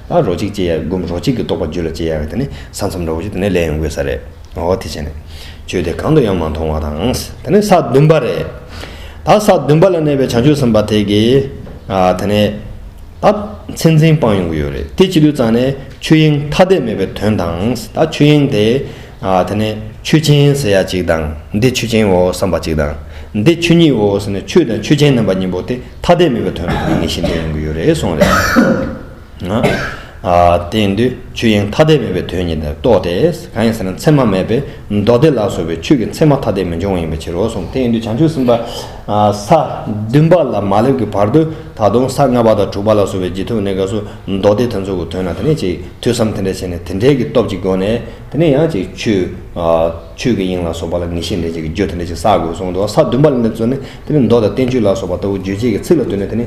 བ། ད་རོ་གཅིག་ཅེས་ཡག་གི་སྒོམ་རོ་གཅིག་གི་རྟོགས་པ་བརྒྱུད་ལ་བཅད་ཡག་གི་དེ་ནི་ས་མཚམས་འདྲ་བོ་ཞིག་དེ་ནས་ལས་ཡོང་དགོས་ས་རེད་འོ་དེ་བྱས་ནས་ཆོས་དེ་གང་དུ་ཡང་མ་མཐོང་བ་དང་དེ་ནི་ས་བདུན་པ་རེད་ད་ས་བདུན་པ་ལ་གནས་པའི་བྱང་ཆུབ་སེམས་དཔའ་དེ་གིས་དེ་ནས་ད་མཚན་འཛིན་སྤངས་ཡོང་གི་ཡོད་རེད་དེ་བྱེད་དུས་ཙང་ནས། ཆོས་དབྱིངས་ཐ་དད་མེད་པའི་དོན་དང། ད་ཆོས་དབྱིངས་དེ། དེ་ནས་ཆོས་ཅན་ཟེར་ཡ་གཅིག་དང། འདི་ཆོས་ཅན་འོ་བསམ་པ་གཅིག་དང། འདི་ཆོས་ཉིད་འོ་ཟེར་ནས་ཆོས་དང་ཆོས་ཅན་རྣམ་པ་གཉིས་པོ་དེ་ཐ་དད་མེད་པའི་དོན་དུ་ངེས་ཤིང་འདོད་ཡོང་གི་ཡོད་རེད་གསུངས་རེད། དེ་ཡིན་དུས་ཆོས་དབྱིངས་ཐ་དད་མེད་པའི་དོན་ཉིད་དེར་གཏོགས་ཏེ། གང་ཡིན་ཟེར་ན་མཚན་མ་མེད་པས་མདོ་སྡེ་ལ་སོགས་པའི་ཆོས་ཀྱི་མཚན་མ་ཐ་དད་མི་འབྱུང་བ་ཡིན་པའི་ཕྱིར་རོ་གསུངས། དེ་ཡིན་དུས་བྱང་ཆུབ་སེམས་དཔའ། ས་བདུན་པ་ལ་མ་སླེབས་ཀྱི་བར་དུ་ད་དུང་ས་ལྔ་པ་དང་དྲུག་པ་ལ་སོགས་པའི་རྗེས་ཐོབ་གནས་སྐབས་སུ་མདོ་སྡེ་དེ་ཚོ་གི་དོན་ལ་དེ་ནས་ཅིག་ཐོས་བསམ་དེ་འདྲ་བྱས་ནས་དེ་འདྲའི་གི་སྟོབས་ཀྱི་སྒོ་ནས་དེ་ནས་ཡང་ཅིག་ཆོས་ཀྱི་དབྱིངས་ལ་སོགས་པ་ལ་ངེས་ཤེས་འདྲེན་བྱེད་ཀྱི་རྒྱུ་དེ་འདྲ་ཅིག་བསགས་དགོས་གསུངས་འདུག་ས་བདུན་པ་ལ་འདི་ཚོ་ནི་དེ་ནི་མདོ་དང་བསྟན་བཅོས་ལ་སོགས་པ་ལྟ་བུ་རྗོད་བྱེད་ཀྱི་ཚིག་ལ་ལྟོས་ནས་དེ་ནི་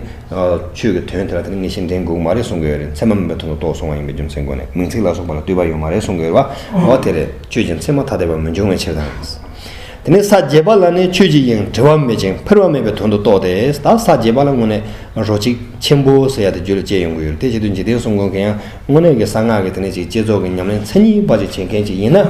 ཆོས་ཀྱི་དོན་དེ་ལ་དེ་ནི་ངེས་ཤེས་འདྲེན་དགོས་ཀྱི་མ་རེད་གསུངས་ཀྱི་ཡོད་རེད་མཚན་མ་མིན་པའི་དོན་དུ་རྟོགས་སོང་བ་ཡིན་པའི་རྒྱུ་མཚན་སྒོ་ནས་མིང་ཚིག་ལ་སོགས་པ་ལ་ལྟོས་པ་ཡོད་མ་རེད་གསུངས་ཀྱི་ཡོད་པ་འོ་དེ་རེད་ཁྱོད་ཀྱིས་མཚན་མ་ཐ་དད་པ་མི་འབྱུང་བའི་ཕྱིར་དང། དེ་ནས་ས་བརྒྱད་པ་ལ་ནི་ཆོས་ཀྱི་དབྱིངས་བྲི་བ་མེད་ཅིང་འཕེར་བ་མེད་པའི་དོན་དུ་རྟོགས་ཏེ་ད་ས་བརྒྱད་པ་ལ་དངོས་གནས་རོ་གཅིག་ཆེན་པོ་ཟེར་ཡ་དེ་རྒྱུད་ལ་སྐྱེས་ཡོང་གི་ཡོད་རེད་དེ་བཞིན་དུ་འཇིག་རྟེན་གསུམ་གང་གི་ཡང་དངོས་གནས་ཀྱི་གསང་སྔགས་ཀྱི་དེ་ནས་ཅིག་བསྐྱེད་རྫོགས་ཀྱི་ཉམས་ལེན་མཚན་ཉིད་དཔག་བྱེད་བྱེད་མཁན་ཅིག་ཡིན་ན།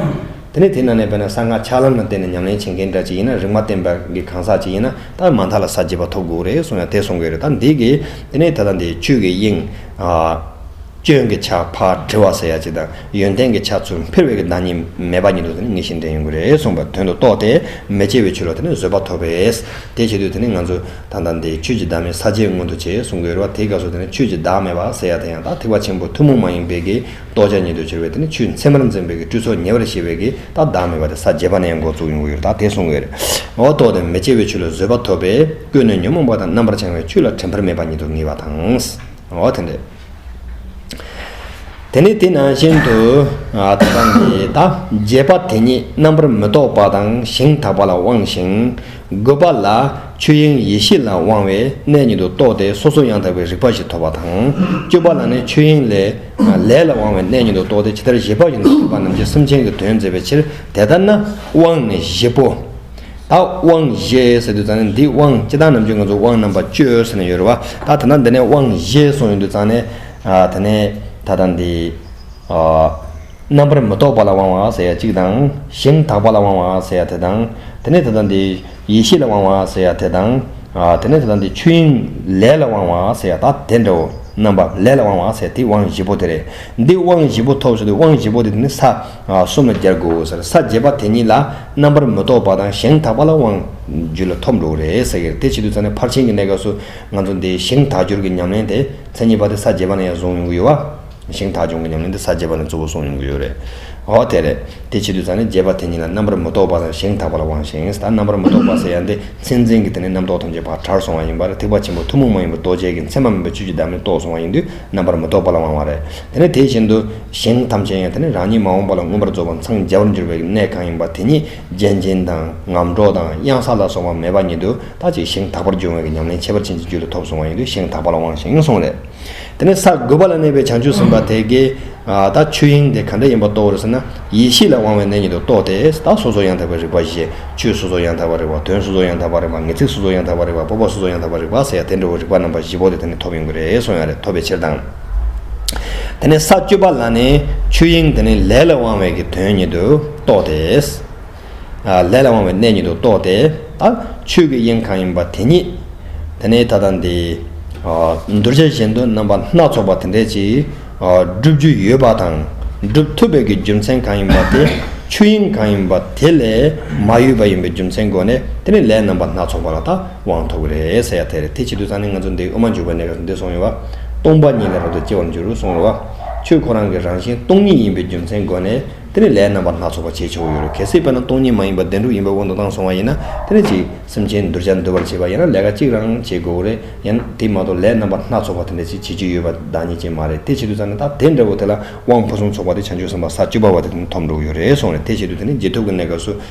དེ་ནས་དེ་རྣམས་ནས་དཔེར་ན་གསང་སྔགས་ཆགས་ལམ་ལ་བརྟེན་ནས་ཉམས་ལེན་བྱེད་མཁན་འདྲ་ཅིག་ཡིན་ན་རིག་མ་བསྟན་པ་གི་གང་ཟག་ཅིག་ཡིན་ན་ད་མ་མཐའ་ལ་ས་བརྒྱད་པ་ཐོབ་དགོས་རེད་གསུངས་ཡ་དེ་གསུངས་གི་རེད་ད་འདི་གིས་དེ་ནས་ད་ལྟ་འདི་ཆོས་ཀྱི་དབྱིངས། སྐྱོན་གྱི་ཆ་ཕ་དྲི་བ་ཟེར་ཡ་གཅིག་དང་ཡོན་ཏན་གྱི་ཆ་ཚུལ་འཕེར་བའི་གི་བདག་ཉིད་མེད་པ་ཉིད་དུ་དེ་ནི་ངེས་ཤིང་དེ་ཡིན་དགོས་རེད་གསུངས་པ་དོན་དུ་རྟོགས་ཏེ་མི་སྐྱེ་བའི་ཆོས་ལ་དེ་ནི་བཟོད་པ་ཐོབ་པས། དེ་བྱེད་དུས་དེ་ནི་ང་ཚོས་ད་ལྟ་འདི་ཆོས་ཀྱི་བདག་མེད་ས་བཅད་མངོན་དུ་བྱས་གསུང་གི་རེད་བ་དེའི་སྐབས་སུ་དེ་ནི་ཆོས་ཀྱི་བདག་མེད་པ་ཟེར་ཡ་དེ་ཡང་དག་ཐེག་པ་ཆེན་པོ་ཐུན་མོང་མ་ཡིན་པའི་གི་རྟོགས་བྱ་ཉིད་དུ་གྱུར་བས་དེ་ནི་ཆུའི་མཚན་མར་འཛིན་པའི་གི་སྤྲུལ་ཚོགས་ཉེ་བར་ཤེས་པའི་གི་དག་བདག་མེད་པ་དེ་ས་བརྒྱད་པ་ནས་འགོ་བཙུགས་ཡོང་གི་ཡོད་དག་དེ་གསུང་གི་རེད་བ་རྟོགས་ཏེ་མི་སྐྱེ་བའི་ཆོས་ལ་བཟོད་པ་ཐོབ་པས་ཀུན་ནས་ཉོན་མོངས་པ་དང་རྣམ་པར་བྱང་བའི་ཆོས་ལ་དྲན་པར་མེད་པ་ཉིད་དུ་ངེས་པ་དང། དེ་འདྲའི། དེ་ནི་དེ་ནང་བཞིན་དུ་དག་པ་ནི་དག། རྒྱས་པ་དེ་ཉིད་རྣམ་པར་མི་རྟོག་པ་དང་ཞིང་དག་པ་ལ་དབང་ཞིང། དགོད་པ་ལ། ཆོས་དབྱིངས་ཡེ་ཤེས་ལ་དབང་བས་གནས་ཉིད་དུ་རྟོགས་ཏེ་སོ་སོ་ཡང་དག་པའི་རིག་པ་ཞིག་ཐོབ་པ་དང། སྤྱོད་པ་ལ་ནི་ཆོས་དབྱིངས་ལས། ལས་ལ་དབང་བས་གནས་ཉིད་དུ་རྟོགས་ཏེ་ཇི་ལྟར་བཞེད་པ་བཞིན་དུ་རིག་པ་རྣམས་ཀྱིས་སེམས་ཅན་གྱི་དོན་མཛད་པའི་ཕྱིར་དེ་ལྟར་ན་དབང་ནི་བཞི་པོ། ད་དབང་བཞེས་ཟེར་དུས་ཙང་ནས་འདི་དབང་སྤྱི་བཏང་ནམ་ཅོ་ང་ཚོ་དབང་རྣམ་པ་བཅོས་ཟེར་ནས་ཡོད་རེད་བ་ད་ད་ནང་འདི་ནས་དབང་བཞེས་སོང་ཡོད་དུས་ཙང་ནས་ད་ནས་ད་ལྟ་འདི་རྣམ་པར་མི་རྟོག་པ་ལ་དབང་བ་ཟེར་ཡ་གཅིག་དང་ཞིང་དག་པ་ལ་དབང་བ་ཟེར་ཡ་དེ་དང་དེ་ནས་ད་ལྟ་འདི་ཡེ་ཤེས་ལ་དབང་བ་ཟེར་ཡ་དེ་དང་དེ་ནས་ད་ལྟ་འདི་ཆོས་དབྱིངས་ལས་ལ་དབང་བ་ཟེར་ཡ་ད་དེ་འདྲའོ་རྣམ་པ་ལས་ལ་དབང་བ་ཟེར་ཡ་དེ་དབང་བཞི་པོ་དེ་རེད་འདི་དབང་བཞི་པོ་ཐོབ་ཟེར་དུས་དབང་བཞི་པོ་དེ་དེ་ནི་ས། གསུམ་ལ་སྦྱར་དགོས་ས་རེད་ས་བརྒྱད་པ་དེ་གཉིས་ལ་རྣམ་པར་མི་རྟོག་པ་དང་གཞན་དག་པ་ལ་དབང་བརྒྱུད་ལ་ཐོབ་འགྲོ་གི་རེད་ཟེར་གི་རེད་དེ་ཕྱི་དུས་ཚང་ནས་ཕར་ཕྱིན་གྱི་གནས་སྐབས་སུ་ང་ཚོ་འདི་ཞིང་དག་སྦྱོར་གྱི་ཉམས་ལེན་དེ་མཚན་ཉིད་པ་དེ་ས་བརྒྱད་པ་ནས་ཡང་བཟུང་ཡོང་གི་ཡོད་བ། ཞིང་དག་སྦྱོང་གི་ཉམས་ལེན་དེ་ས་བརྒྱད་པ་ནས་གཙོ་བོ་བཟུང་ཡོང་གི་ཡོད་རེད། འོ་དེ་རེད་དེ་ཕྱི་དུས་ཚང་ནས་བརྒྱད་པ་དེ་གཉིས་ལ་རྣམ་པར་མི་རྟོག་པ་དང་ཞིང་དག་པ་ལ་དབང་ཞིང་ད་རྣམ་པར་མི་རྟོག་པ་ཟེར་ཡ་འདི་མཚན་འཛིན་གྱི་དེ་ནས་རྣམ་རྟོག་ཐམས་ཅད་བར་ཁྲར་སོང་བ་ཡིན་པར་ཐེག་པ་ཆེན་པོ་ཐུན་མོང་མ་ཡིན་པ་རྡོ་རྗེ་གི་མཚན་མ་མིན་པའི་ཆོས་ཀྱི་བདག་མེད་རྟོགས་སོང་བ་ཡིན་དུས་རྣམ་པར་མི་རྟོག་པ་ལ་དབང་བ་རེད། དེ་ནི་དེ་བཞིན་དུ་གཞན་ཐམས་ཅད་ཡང་དེ་ནི་རང་ཉིད་མ་འོངས་པ་ལ་མངོན་པར་རྫོགས་པར་འཚང་རྒྱ་བར་འགྱུར་བའི་གནས་གང་ཡིན་པ་དེ་ཉིད་ལྗན་ལྗིན་དང་ངམ་གྲོག་དང་གཡང་ས་ལ་སོགས་པ་མེད་པ་ཉིད་དུ་ལྟ་ཅི་ཞིང་དག་པར་འབྱུང་བའི་ཉམས་ལེན་ཁྱད་པར་ཅན་གྱི་རྒྱུད་ལ་ཐོབ་སོང་བ་ཡིན་དུས་ཞིང་དག་པ་ལ་དབང་ཞིང་སོང་ལས། དེ་ནི་ས་དགུ་པ་ལ་གནས་པའི་བྱང་ཆུབ་སེམས་དཔའ་དེ་ཀའི་ད་ཆོས་དབྱིངས་དེ་ག་འདྲ་ཡིན་པ་རྟོགས་འོར་ཟེར་ན་ཡེ་ཤེས་ལ་དབང་བའི་གནས་ཉིད་དུ་རྟོགས་ཏེ་ད་སོ་སོར་ཡང་དག་པའི་རིག་པ་བཞེས་ཆོས་སོ་སོར་ཡང་དག་པར་རིག་པ་དོན་སོ་སོར་ཡང་དག་པར་རིག་པ་ངེས་ཚིག་སོ་སོར་ཡང་དག་པར་རིག་པ་སྤོབས་པ་སོ་སོར་ཡང་དག་པར་རིག་པ་ཟེར་ཡང་དེ་འདྲ་བའི་རིག་པ་རྣམ་པ་བཞི་པོ་དེ་དེ་ནས་ཐོབ་ཡོང་གི་རེད་སོང་ཡང་རེད་ཐོབ་པའི་ཕྱིར་དང། དེ་ནས་ས་བཅུ་པ་ལ་ནི་ཆོས་དབྱིངས་དེ་ནི་ལས་ལ་དབང་བའི་གི་དོན་ཉིད་དུ་རྟོགས་ཏེ། ལས་ལ་དབང་བའི་གནས་ཉིད་དུ་རྟོགས་ཏེ། ཆོས་ཀྱི་དབྱིངས་གང་ཡིན་པ་དེ་ཉིད་དེ་ནི་ད་ལྟ་འདི། གདུལ་བྱ་གཞན་དུ་རྣམ་པ་སྣ་ཚོགས་པ་དེ་འདྲའི་ཅིག། བསྒྲུབ་རྒྱུ་ཡོད་པ་དང་བསྒྲུབ་ཐུབ་པའི་གི་རྒྱུ་མཚན་གང་ཡིན་པ་དེ་ཆོས་དབྱིངས་གང་ཡིན་པ་དེ་ལས་མ་གཡོས་པ་ཡིན་པའི་རྒྱུ་མཚན་སྒོ་ནས་དེ་ནི་ལས་རྣམ་པ་སྣ་ཚོགས་པ་ལ་དག་དབང་ཐོབ་རེས་ཡ་དེར་དེ་བྱེད་དུ་ཚང་ནས་ང་ཚོ་འདི་དབུ་མ་འཇུག་པའི་གནས་སྐབས་སུ་འདི་སོང་ཡོད་པ། སྟོང་པ་ཉིད་ལ་རབ་ཏུ་སྐྱེ་བར་འགྱུར་སོང་བ། ཁྱོད་ཁོ་རང་གི་རང་བཞིན་སྟོང་ཉིད་ཡིན་པའི་རྒྱུ་མཚན་བསྒོས་ནས་དེ་ནི་ལས་རྣམ་པ་སྣ་ཚོགས་པ་བྱེད་ཆོག་ཡོད་རེད་གལ་སྲིད་དཔེར་ན་སྟོང་ཉིད་མ་ཡིན་པ་བདེན་གྲུབ་ཡིན་པའི་དབང་དུ་བཏང་སོང་བ་ཡིན་ན་དེ་ནི་ཅིག་སེམས་ཅན་གདུལ་བྱ་འདུལ་བར་བྱེད་པ་ཡིན་ན་ལས་ཀ་གཅིག་རང་བྱེད་དགོས་རེད་ཡང་ན་དེ་མ་གཏོགས་ལས་རྣམ་པ་སྣ་ཚོགས་པ་དེ་འདྲ་ཅིག་བྱེད་རྒྱུ་ཡོད་པ་བདག་ཉིད་ཅན་མ་རེད་དེ་བྱེད་དུ་ཚང་ནས་ད་དེ་འདྲ་བོ་དེ་ལ་དབང་ཕུན་སུམ་ཚོགས་པ་དེ་བྱང་ཆུབ་སེམས་དཔའ་ས་བཅུ་པ་བ་དེ་དེ་ནི་ཐོབ་འགྲོ་གི་ཡོད་རེད་སོང་རེད་དེ་བྱེད་དུ་དེ་ནི་རྗེས་ཐོབ་ཀྱི་གནས་སྐབས་སུ་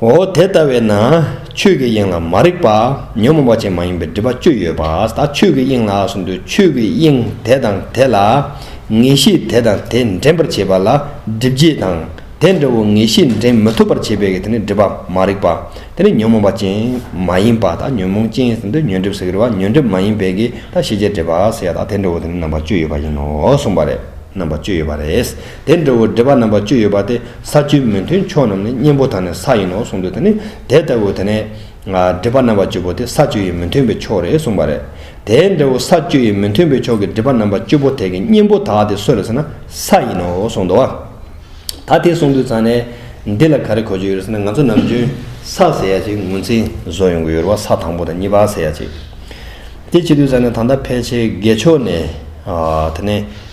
འོ་དེ་ལྟ་བས་ན་ཆོས་ཀྱི་དབྱིངས་ལ་མ་རིག་པ་ཉོན་མོངས་པ་ཅན་མ་ཡིན་པའི་སྒྲིབ་པ་བཅུ་ཡོད་པ་དག་ཆོས་ཀྱི་དབྱིངས་ལགས་སུ་འདོད་ཆོས་ཀྱི་དབྱིངས་དེ་དང་དེ་ལ་ངེས་ཤེས་དེ་དང་དེ་འདྲེན་པར་བྱེད་པ་ལ་སྒྲིབ་བྱེད་དང་དེ་འདྲ་བོ་ངེས་ཤེས་འདྲེན་མི་ཐུབ་པར་བྱེད་པའི་དེ་ནི་སྒྲིབ་པ་མ་རིག་པ་དེ་ནི་ཉོན་མོངས་པ་ཅན་མ་ཡིན་པ་དག་ཉོན་མོངས་ཅན་ཟིན་དུ་ཉོན་སྒྲིབ་ཟེར་བ་ཉོན་སྒྲིབ་མ་ཡིན་པའི་གེགས་དང་ཤེས་བྱའི་འབྲེལ་པ་ཟེར་བ་དག་དེ་འདྲ་བོ་དེ་ནི་རྣམ་པ་བཅུ་ཡོད་པ་ཡིན་ནོ་གསུངས་པ་རེད་རྣམ་པ་བཅུ་ཡོད་པ་རེད། དེ་འདྲ་བོ་འདྲེས་པ་རྣམ་པ་བཅུ་ཡོད་པ་དེ་ས་བཅུའི་མི་མཐུན་ཕྱོགས་རྣམས་ནི་གཉེན་པོ་དང་ནི་ས་ཡིན་ནོ་གསུངས་འདུག་དེ་ནི་དེ་ལྟ་བུ་དེ་ནས། འདྲེས་པ་རྣམ་པ་བཅུ་པོ་དེ་ས་བཅུ་ཡི་མི་མཐུན་པའི་ཕྱོགས་རེད་གསུངས་པ་རེད། དེ་འདྲ་བོ་ས་བཅུ་ཡི་མི་མཐུན་པའི་ཕྱོགས་ཀྱི་འདྲེས་པ་རྣམ་པ་བཅུ་པོ་དེ་གི་གཉེན་པོ་དག་དེ་སུ་རེད་ཟེར་ན་ས་ཡིན་ནོ་གསུངས་འདུག་བ། ད་དེ་གསུངས་དུས་ཚང་ནས་འདི་ལ་ག་རེ་གོ་རྒྱུ་ཡོད་ཟེར་ན་ང་ཚོ་ནམ་རྒྱུན་ས་ཟེར་ཡ་ཅིག་ངོས་འཛིན་བཟོ་ཡོང་གི་ཡོད་རེད་བ་ས་དང་པོ་དང་གཉིས་པ་ཟེར་ཡ་ཅིག་དེ་བྱེད་དུས་ཚང་ནས་ད་ལྟ་ཕལ་ཆེར་དགེ་ཕྱོགས་ནས་དེ་ནས།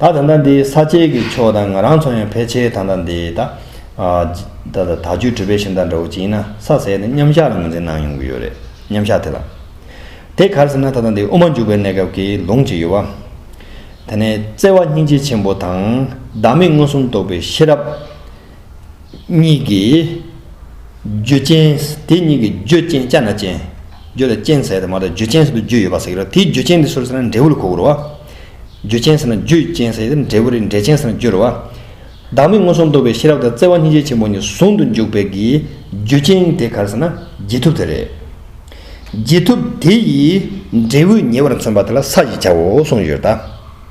ད་ད་ད་འདི་ས་སྐྱེས་ཀྱི་ཆོས་དང་ང་རང་ཚོ་ཡང་ཕལ་ཆེར་ད་ད་འདི་ད། ད་ད་ད་ཆུའི་གྲུ་པའི་ཤིང་རྟ་འདྲ་བོ་ཅིག་ཡིན་ན་ས་ཟད་ནས་མཉམ་བཞག་ལ་ངོས་འཛིན་གནང་ཡོང་གི་ཡོད་རེད་མཉམ་བཞག་དེ་ལ། དེ་གར་ཟེར་ན་ད་ད་འདི་དབུ་མ་འཇུག་པའི་གནས་སྐབས་ཀྱི་ལུང་ཅིག་ཡོད། དེ་ནས་བརྩེ་བ་སྙིང་རྗེ་ཆེན་པོ་དང་བདག་མེད་མངོན་སུམ་རྟོགས་པའི་ཤེས་རབ། གཉིས་ཀྱིས། རྒྱུ་ཅན། དེ་གཉིས་ཀྱི་རྒྱུ་ཅན་ཅན་དང་ཅན། རྒྱུ་ལ་ཅན་ཟེར་ཏེ་མ་གཏོགས་རྒྱུ་ཅན་ཟེར་དུ་རྒྱུ་ཡོད་པ་ཟེར་གྱི་རེད་དེའི་རྒྱུ་ཅན་དེ་སུ་རེད་ཟེར་ན་འབྲས་བུ་ལ་གོ་དགོས་རེད་བ། རྒྱུ་ཅན་ཟེར་ན་རྒྱུ་ཅན་ཟེར་ཏེ་འབྲས་བུ་རེད་འབྲས་ཅན་ཟེར་ན་རྒྱུ་རེད་བ། བདག་མེད་མངོན་སུམ་རྟོགས་པའི་ཤེས་རབ་དང་བརྩེ་བ་སྙིང་རྗེ་ཆེན་པོ་གཉིས་ཟུང་དུ་འཇུག་པའི་གི་རྒྱུ་ཅན་དེ་ག་རེ་ཟེར་ན་རྗེས་ཐུབ་དེ་རེད། རྗེས་ཐུབ་དེ་ཡིས་འབྲས་བུ་ཉེ་བར་མཚོན་པ་དེ་ལ་ས་ཞེས་བྱའོ་གསུངས་ཡོད་ད།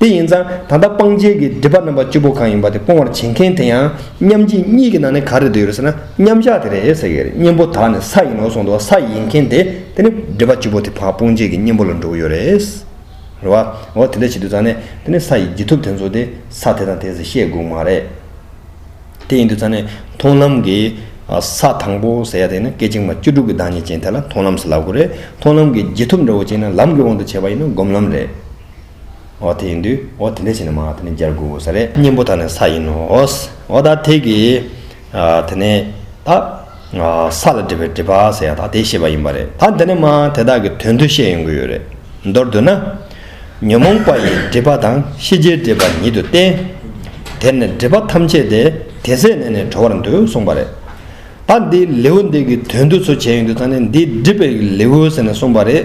དེ་ཡིན་ཙང་ད་ལྟ་སྤང་རྒྱལ་གྱི་སྒྲིབ་པ་རྣམ་པ་བཅུ་པོ་གང་ཡིན་པ་དེ་སྤོང་བར་བྱེད་མཁན་དེ་ཡང་མཉམ་རྗེས་གཉིས་ཀྱི་ནང་ནས་ག་རེ་དུ་ཡོད་རེད་ཟེར་ན་མཉམ་གཞག་དེ་རེད་ཟེར་གྱི་རེད་གཉེན་པོ་དག་ནི་ས་ཡིན་ནོ་གསུངས་འདུག་ས་ཡིན་མཁན་དེ་དེ་ནི་སྒྲིབ་པ་བཅུ་པོ་དེ་བག་སྤོང་བྱེད་ཀྱི་གཉེན་པོ་ལ་འགྲོ་གི་ཡོད་རེད། རེད་བ། འོ་དེ་འདྲ་བྱེད་དུས་ཙང་ནས་དེ་ནི་ས་ཡི་རྒྱུ་ཐུབ་དེ་ཚོ་དེ་ས་དེ་དང་དེ་ཟེར་ཤེས་དགོས་མ་རེད། དེ་ཡིན་དུས་ཙང་ནས་མཐོང་ལམ་གྱི་ས་དང་པོ་ཟེར་ཡ་དེ་ནི་སྐད་ཅིག་མ་བཅུ་དྲུག་གི་བདག་ཉིད་ཅན་དེ་ལ་མཐོང་ལམ་ཟེར་ལབ་དགོས་རེད་མཐོང་ལམ་གྱི་རྒྱུ་ཐུབ་འདྲ་བོ་ཅན་ནི་ལམ་གྱི་དབང་དུ་བྱས་པ་ཡིན་ན་སྒོམ་ལམ་རེད། འོ་དེ་ཡིན་དུས་འོ་དེ་འདྲས་བྱས་ནས་མ་དེ་ནས་སྦྱར་དགོས་ས་རེད། གཉེན་པོ་དག་ནི་ས་ཡིན་ནོ། འོ་ད་དེ་གི། དེ་ནས་ད། ས་ལ་འབྲེལ་བའི་འབྲེལ་པ་ཟེར་ཡག་ད་དེ་ཤེས་པ་ཡིན་པ་རེད། ད་འདི་ནས་མ་དེ་དག་གི་དོན་དུ་ཤེས་ཡོང་གི་ཡོད་རེད། མདོར་བསྡུ་ན། ཉོན་མོངས་པ་ཡི་སྒྲིབ་པ་དང་ཤེས་བྱའི་སྒྲིབ་པ་ཉིད་དུ་བསྟན། དེར་ནི་སྒྲིབ་པ་ཐམས་ཅད་དེ་དེ་ཟད་ནས་ནི་གྲོལ་བར་འདུ་གསུངས་པ་རེད། ད་འདིའི་ལེའུ་འདི་གི་དོན་དུ་ཚུལ་བྱས་ཡོང་དུས་ད་ནི་འདིའི་སྒྲིབ་པའི་ལེའུ་ཟེར་ནས་གསུངས་པ་རེད།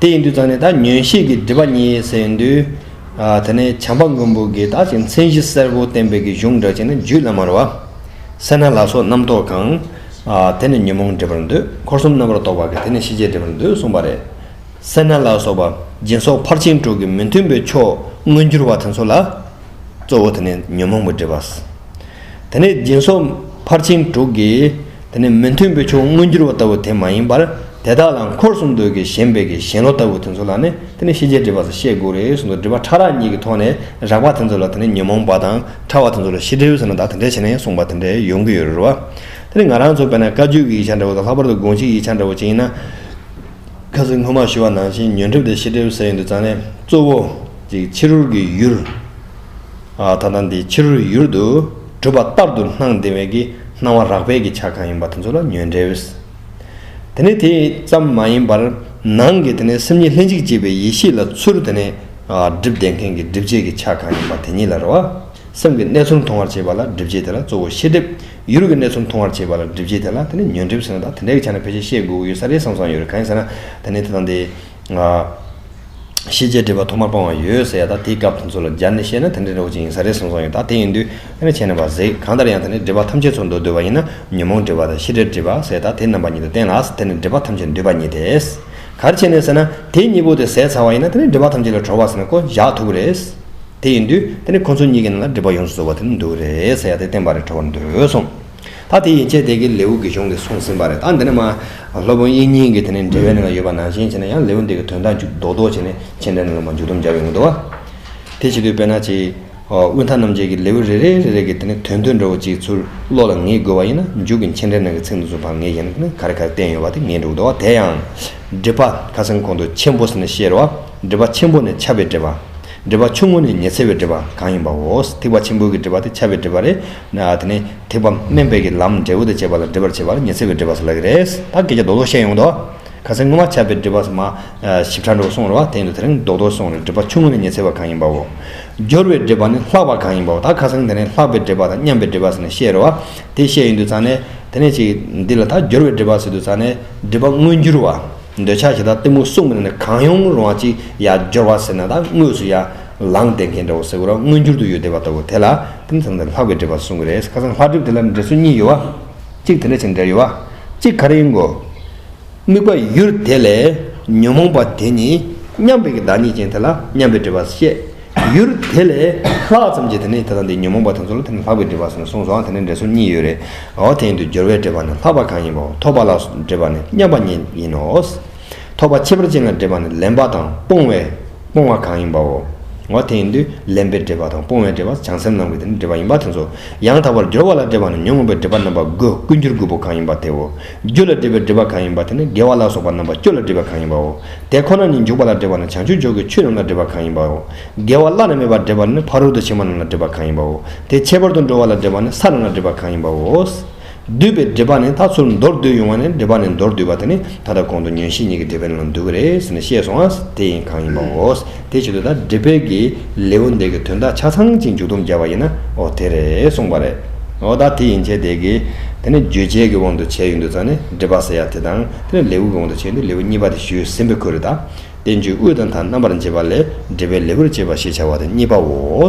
དེ་ཡིན་དུས་ཙང་ནས་ད་ཉོན་ཤེས་ཀྱི་སྒྲིབ་པ་གཉིས་ཟེར་ཡིན་དུས། དེ་ནས་བྱམས་པ་མགོན་པོ་དགེ་རྟག་ཅིག་མཚན་གཞི་གསལ་བོ་བསྟན་པའི་གི་གཞུང་འདྲ་ཅིག་ནི་རྒྱུད་བླ་མར་བ། སེར་སྣ་ལ་སོགས་རྣམ་རྟོག་གང། དེ་ནི་ཉོན་མོངས་སྒྲིབ་པར་འདོད་འཁོར་གསུམ་རྣམ་པར་རྟོག་པ་གི་དེ་ནི་ཤེས་བྱའི་སྒྲིབ་པར་འདོད་གསུངས་པ་རེད། སེར་སྣ་ལ་སོགས་པ་སྦྱིན་སོགས་ཕར་ཕྱིན་དྲུག་གི་མི་མཐུན་པའི་ཕྱོགས་མངོན་གྱུར་བ་དེ་ཚོ་ལ། གཙོ་བོ་དེ་ནི་ཉོན་མོངས་པའི་སྒྲིབ་པ། དེ་ནས་སྦྱིན་སོགས་ཕར་ཕྱིན་དྲུག་གི། དེ་ནི་མི་མཐུན་པའི་ཕྱོགས་མངོན་གྱུར་བ་ལྟ་བུ་དེ་མ་ཡིན་པར་དེ་དག་ལ་འཁོར་གསུམ་འདོད་ཀྱི་ཞེན་པའི་ཀྱི་ཞེན་བློ་ལྟ་བུ་དེ་ཚོ་ལ་ནི་དེ་ནི་ཤེས་བྱའི་སྒྲིབ་པ་ས་ཤེས་དགུ་རེ་ཟུང་དང་སྒྲིབ་པ་ཕྲ་རགས་གཉིས་ཀྱི་ཐོག་ནས་རགས་པ་དེ་ཚོ་ལ་དེ་ནི་ཉོན་མོངས་པ་དང་ཕྲ་བ་དེ་ཚོ་ལ་ཤེས་སྒྲིབ་ཟེར་ན་དག་དེ་འདྲའི་བྱེད་ནས་གསུངས་པ་དེ་འདྲ་ཡོང་གི་ཡོད་རེད་བ། དེ་ནི་ང་རང་ཚོ་བས་ན་བཀའ་བརྒྱུད་ཀྱི་ཡིག་ཆ་འདྲ་བོ་དང་ལྷག་པར་དུ་དགོངས་གཞིའི་ཡིག་ཆ་འདྲ་བོ་ཅན་ཡིན་ན། ཁ་ཟིག་སྔོན་མ་ཞུས་བ་ནང་བཞིན་ཉོན་སྒྲིབ་དང་ཤེས་སྒྲིབ་ཟེར་ཡོང་དུས་ཙང་ནས་གཙོ་བོ། གཅིག་ཕྱི་རོལ་གྱི་ཡུལ། ད་ལྟ་འདི་ཕྱི་རོལ་ཡུལ་དུ་གྲུབ་པ་ལྟར་དུ་སྣང་དེ་བས་ཀྱི་སྣང་བ་རགས་པས་ཀྱི་ཆ་གང་ཡིན་པ་དེ་ཚོ་ལ་ཉོན་འདྲེ་བས། དེ་ནས་དེ་ཙམ་མ་ཡིན་པར་ནང་གི་དེ་ནས་སེམས་ཉིད་ལྷན་ཅིག་སྐྱེས་པའི་ཡེ་ཤེས་ལ་ཚུར་དེ་ནས་སྒྲིབ་བདེ་མཁན་གྱི་སྒྲིབ་བྱེད་ཀྱི་ཆ་གང་ཡིན་པ་དེ་ཉིད་ལ་རེ་བ། སེམས་ཀྱི་གནས་ཚུལ་མཐོང་བར་བྱེད་པ་ལ་སྒྲིབ་བྱེད་དེ་ལ་གཙོ་བོ་ཤེས་སྒྲིབ། ཡུལ་གྱི་གནས་ཚུལ་མཐོང་བར་བྱེད་པ་ལ་སྒྲིབ་བྱེད་དེ་ལ་དེ་ནས་ཉོན་སྒྲིབ་ཟེར་ན་ད་དེ་འདྲའི་ཆ་ནས་ཕལ་ཆེར་ཤེས་དགོས་ཀྱི་ཡོད་ས་རེད་བསམ་བསམ་ཡོད་རེད་གང་ཡིན་ཟེར་ན་དེ་ནས་དེ་དང་དེ། ཤེས་བྱའི་སྒྲིབ་པ་ཐོག་མར་སྤོང་བ་ཡོད་ཟེར་ཡ་དག་དེའི་སྐབས་དེ་ཚོ་ལ་སྦྱར་ནས་བཤད་ན་དེ་འདྲའི་རོ་གཅིག་ཡིན་ས་རེད་གསུངས་སོང་ཡོད་དག་དེ་ཡིན་དུས་དེ་འདྲ་བྱས་ན་བ་ཟེགས་གང་ལྟར་ཡང་དེ་ནི་སྒྲིབ་པ་ཐམས་ཅད་ཚོར་འདུ་བསྡུ་བ་ཡིན་ན་ཉོན་མོངས་སྒྲིབ་པ་དང་ཤེས་བྱའི་སྒྲིབ་པ་ཟེར་དག་དེ་རྣམ་པ་གཉིས་དུ་བསྟན་ལ་དེ་ནི་སྒྲིབ་པ་ཐམས་ཅད་འདུས་པ་ཉིད་དེ། གར་བྱས་ནས་ཟེར་ན་དེ་གཉིས་པོ་དེ་ཟད་ཚར་བ་ཡིན་ན་དེ་ནི་སྒྲིབ་པ་ཐམས་ཅད་ལས་གྲོལ་བ་ཟེར་ན་བསྐོ་བཞག་ཐུབ་ཀྱི་རེད། དེ་ཡིན་དུས་དེ་ནི་ཁོ་ཚོ་གཉིས་ཀྱི་ནང་ལ་སྒྲིབ་པ་ཡོངས་སུ་རྫོགས་པ་དེ་ནི་འདུ་བ་རེད་ཟེར་ཡ་དེ་བསྟན་པ་རེ་གྲོལ་བར་འདོད་གསུངས། ད་དེ་ཡི་ཆད་དེ་གའི་ལེའུ་དགེ་སྦྱོང་གིས་གསུངས་ཟིན་པ་རེད་ད་འདི་ནས་མ། སློབ་དཔོན་དབྱིག་གཉེན་གྱིས་དེ་ནས་འགྲེལ་བའི་གནད་ལ་ཡོད་པ་ནང་བཞིན་བྱས་ན་ཡང་ལེའུ་འདི་གའི་དོན་དག་འཇུག་ལྡོག་ལྡོག་བྱས་ནས་མཁྱེན་འགྲེལ་ནང་ལ་མ་མཇུག་སྡོམ་རྒྱག་ཡོང་གི་འདུག་བ། དེ་བྱེད་དུས་དཔེར་ན་ཅིག། དབུས་མཐའ་རྣམ་འབྱེད་ཀྱི་ལེའུ་རེ་རེ་རེ་རེ་གིས་དེ་ནས་དོན་དོན་འདྲ་བོ་གཅིག་ཚུར་བློ་ལ་ངེས་དགོས་བ་ཡིན་ན་མཇུག་གི་མཁྱེན་འགྲེལ་ནང་གི་ཚིག་འདི་ཚོ་བར་ངེས་ཡིན་ན་ག་རེ་ག་རེ་བསྟན་ཡོད་བ་དེ་ངེས་འགྲོ་གི་འདུག་བ་དེ་ཡང། སྒྲིབ་པ་ཁ་སང་གོང་དུ་ཆེན་པོ་ཟེར་ནས་བཤད་རེད་བ། སྒྲིབ་པ་ཆེན་པོ་ནི་ཆགས་པའི་སྒྲིབ་པ། སྒྲིབ་པ་ཆུང་ངུ་ནི་ཉི་ཚེ་བའི་སྒྲིབ་པ་གང་ཡིན་པའོ། ཐིགས་པ་ཆེན་པོའི་གི་སྒྲིབ་པ་དེ་ཆགས་པའི་སྒྲིབ་པ་རེད། ན། དེ་ནི་ཐེག་པ་དམན་པའི་གི་ལམ་འབྲས་བུ་དང་བཅས་པ་ལ་འདྲིས་པར་བྱེད་པ་ལ་ཉི་ཚེ་བའི་འགྲེལ་པ་སོགས་ལ་གི་རེས་ད་གེ་རྒྱ་ཟློག་ཟློག་བཤད་ཡོང་དོ། ཁ་སེར་སྔོན་མ་ཆགས་པའི་འདྲིས་པ་སོ་མ། ཞིབ་ཕྲ་འགྲོ་སོང་རེ་བ་དེ་ཡིན་དུ་དེ་རིང་ཟློག་ཟློག་སོང་རེ་འདྲིས་པ་ཆུང་ངུ་ནི་ཉི་ཚེ་བ་གང་ཡིན་པའོ། སྦྱོར་བའི་འདྲིས་པ་ནི་ལྷག་པ་གང་ཡིན་པའོ་ད་ཁ་སང་དེ་རིང་ལྷག་པའི་འདྲིས་པ་དང་མཉམ་པའི་འདྲིས་པ་ཟེར་ནས་བཤད་རེ་བ་དེ་བཤད་ཡོང་དུས་ཚང་ནས་དེ་ནས་ཅིག་འདི་ལ་ད་སྦྱོར་བའི་འདྲིས་པ་ཟེར་དུས་ཚང་ནས་འདྲིས་པ་དངོས་འགྱུར་བ། འདོད་ཆགས་ཞེ་དྲག་གཏི་མུག་གསུམ་ནི་གང་ཡོང་རུང་བ་ཅིག་ཡང་སྦྱོར་བ་ཟེར་ན་ད་དངོས་སུ་ཡང། ལངས་ཏེ་རྒན་འདྲ་བོ་སེ་གོ་ར་སྔོན་འགྱུར་དུ་ཡོད་བསྡད་པ་ལྟ་བུ་དེ་ལ་དེ་མཚམས་ནས་ལྷག་པའི་འགྲེལ་པ་གསུང་གི་རེད་ཁ་སང་ལྷག་གྲུབ་དེ་ལ་འགྲེལ་ཚུལ་གཉིས་ཡོད་བ། གཅིག་དེ་འདྲ་བྱས་ནས་འགྲེལ་ཡོད་བ། གཅིག་ག་རེ་ཡིན་གོ། དམིགས་པ་ཡུལ་དེ་ལས་ཉོན་མོངས་པ་དེ་ནི་མཉམ་པའི་གི་བདག་ཉིད་ཅན་དེ་ལ་མཉམ་པའི་འབྲེལ་པ་བཤད། ཡུལ་དེ་ལས་ལྷག་ཙམ་གྱིས་དེ་ནི་དེ་དང་དེའི་ཉོན་མོངས་པ་དེ་ཚོ་ལ་དེ་ནི་ལྷག་པའི་འབྲེལ་པ་ཟེར་ནས་གསུངས་སོང་དེ་ནི་འགྲེལ་ཚུལ་གཉིས་ཡོད་རེད། འོ་དེ་ཡིན་དུས་སྦྱོར་བའི་འབྲེལ་པ་ནི་ལྷག་པ་གང་ཡིན་པའོ་ཐོགས་པ་ལ་འབྲེལ་པ་ནི་མཉམ་པ་ཉིད་ཡིན་ནོ། ཐོགས་པ་ཁྱད་པར་ཅན་ལ་འདྲེས་པ་ནི་ལེན་པ་དང་སྤོང་བའི་སྤོང་བ་གང་ཡིན་པའོ། འོ་དེ་ཡིན་དུས་ལེན་པའི་འདྲེས་པ་དང་སྤོང་བའི་འདྲེས་པ་བྱང་སེམས་ནང་གི་དེ་ནི་འདྲེས་པ་ཡིན་པ་དེ་ཚོ། ཡང་དག་པར་སྦྱོར་བ་ལ་འདྲེས་པ་ནི་ཉོན་མོངས་པའི་འདྲེས་པ་རྣམ་པ་དགུ་ཀུན་སྦྱོར་དགུ་པོ་གང་ཡིན་པ་དེའོ། རྒྱུ་ལ་འདྲེས་པའི་འདྲེས་པ་གང་ཡིན་པ་དེ་ནི་དགེ་བ་ལ་སོགས་པ་རྣམ་པ་བཅུ་ལ་འདྲེས་པ་གང་ཡིན་པའོ། དེ་ཁོ་ན་ཉིད་འཇུག་པ་ལ་འདྲེས་པ་ནི་བྱང་ཆུབ་མཆོག་གི་ཆོས་རྣམས་ལ་འདྲེས་པ་གང་ཡིན་པའོ། དགེ་བ་བླ་ན་མེད་པར་འདྲེས་པ་ནི་ཕ་རོལ་ཏུ་ཕྱིན་པ་རྣམས་ལ་འདྲེས་པ་གང་ཡིན་པའོ། དེ་ཁྱད་པར་དུ་འགྲོ་བ་ལ་འདྲེས་པ་ནི་ས་རྣམས་ལ་འདྲེས་པ་གང་ཡིན་པའོ། བསྡུས་པའི་འགྲེལ་པ་ནི་ད་ཚུར་མདོར་བསྡུས་ཡོང་བ་ནས་འགྲེལ་པ་ནས་མདོར་བསྡུས་པ་དེ་ནི་ད་ལྟ་གོང་དུ་ཉོན་ཤེས་གཉིས་ཀྱི་འགྲེལ་པའི་ནང་འདུས་ཀྱི་རེད་ཟེར་ནས་བཤད་སོང་ཨ། དེ་ཡིན་གང་ཡིན་པའོ། དེའི་ཆེད་དུ་ད་འགྲེལ་པས་ཀྱི་ལེའུ་འདི་གི་དོན་དག་ཆ་ཚང་ཅིག་མཇུག་བསྡོམས་བརྒྱབ་པ་ཡིན་ན་ཨོ་དེ་རེད་གསུངས་པ་རེད། ཨོ་ད་དེ་ཡིན་བྱས་དེ་ཀྱི། དེ་ནི་བརྗོད་བྱའི་ཀྱི་དབང་དུ་བྱས་ཡོད་འདུག་ཙང་ནི་འགྲེལ་པ་ཟེར་ཡག་དེ་དང་དེ་ནི་ལེའུ་ཀྱི་དབང་དུ་བྱས་འདུག་ལེའུ་གཉིས་པ་དེ་ཞུས་ཟིན་པས་ཁོ་རེ་ད། དེ་མཇུག་དབུས་དང་ཐ་རྣམ་པར་འབྱེད་པ་ལས་འགྲེལ་པའི་ལེའུར་བཅས་པ་ཞེས་བྱ་བ་དེ་གཉིས་པའོ།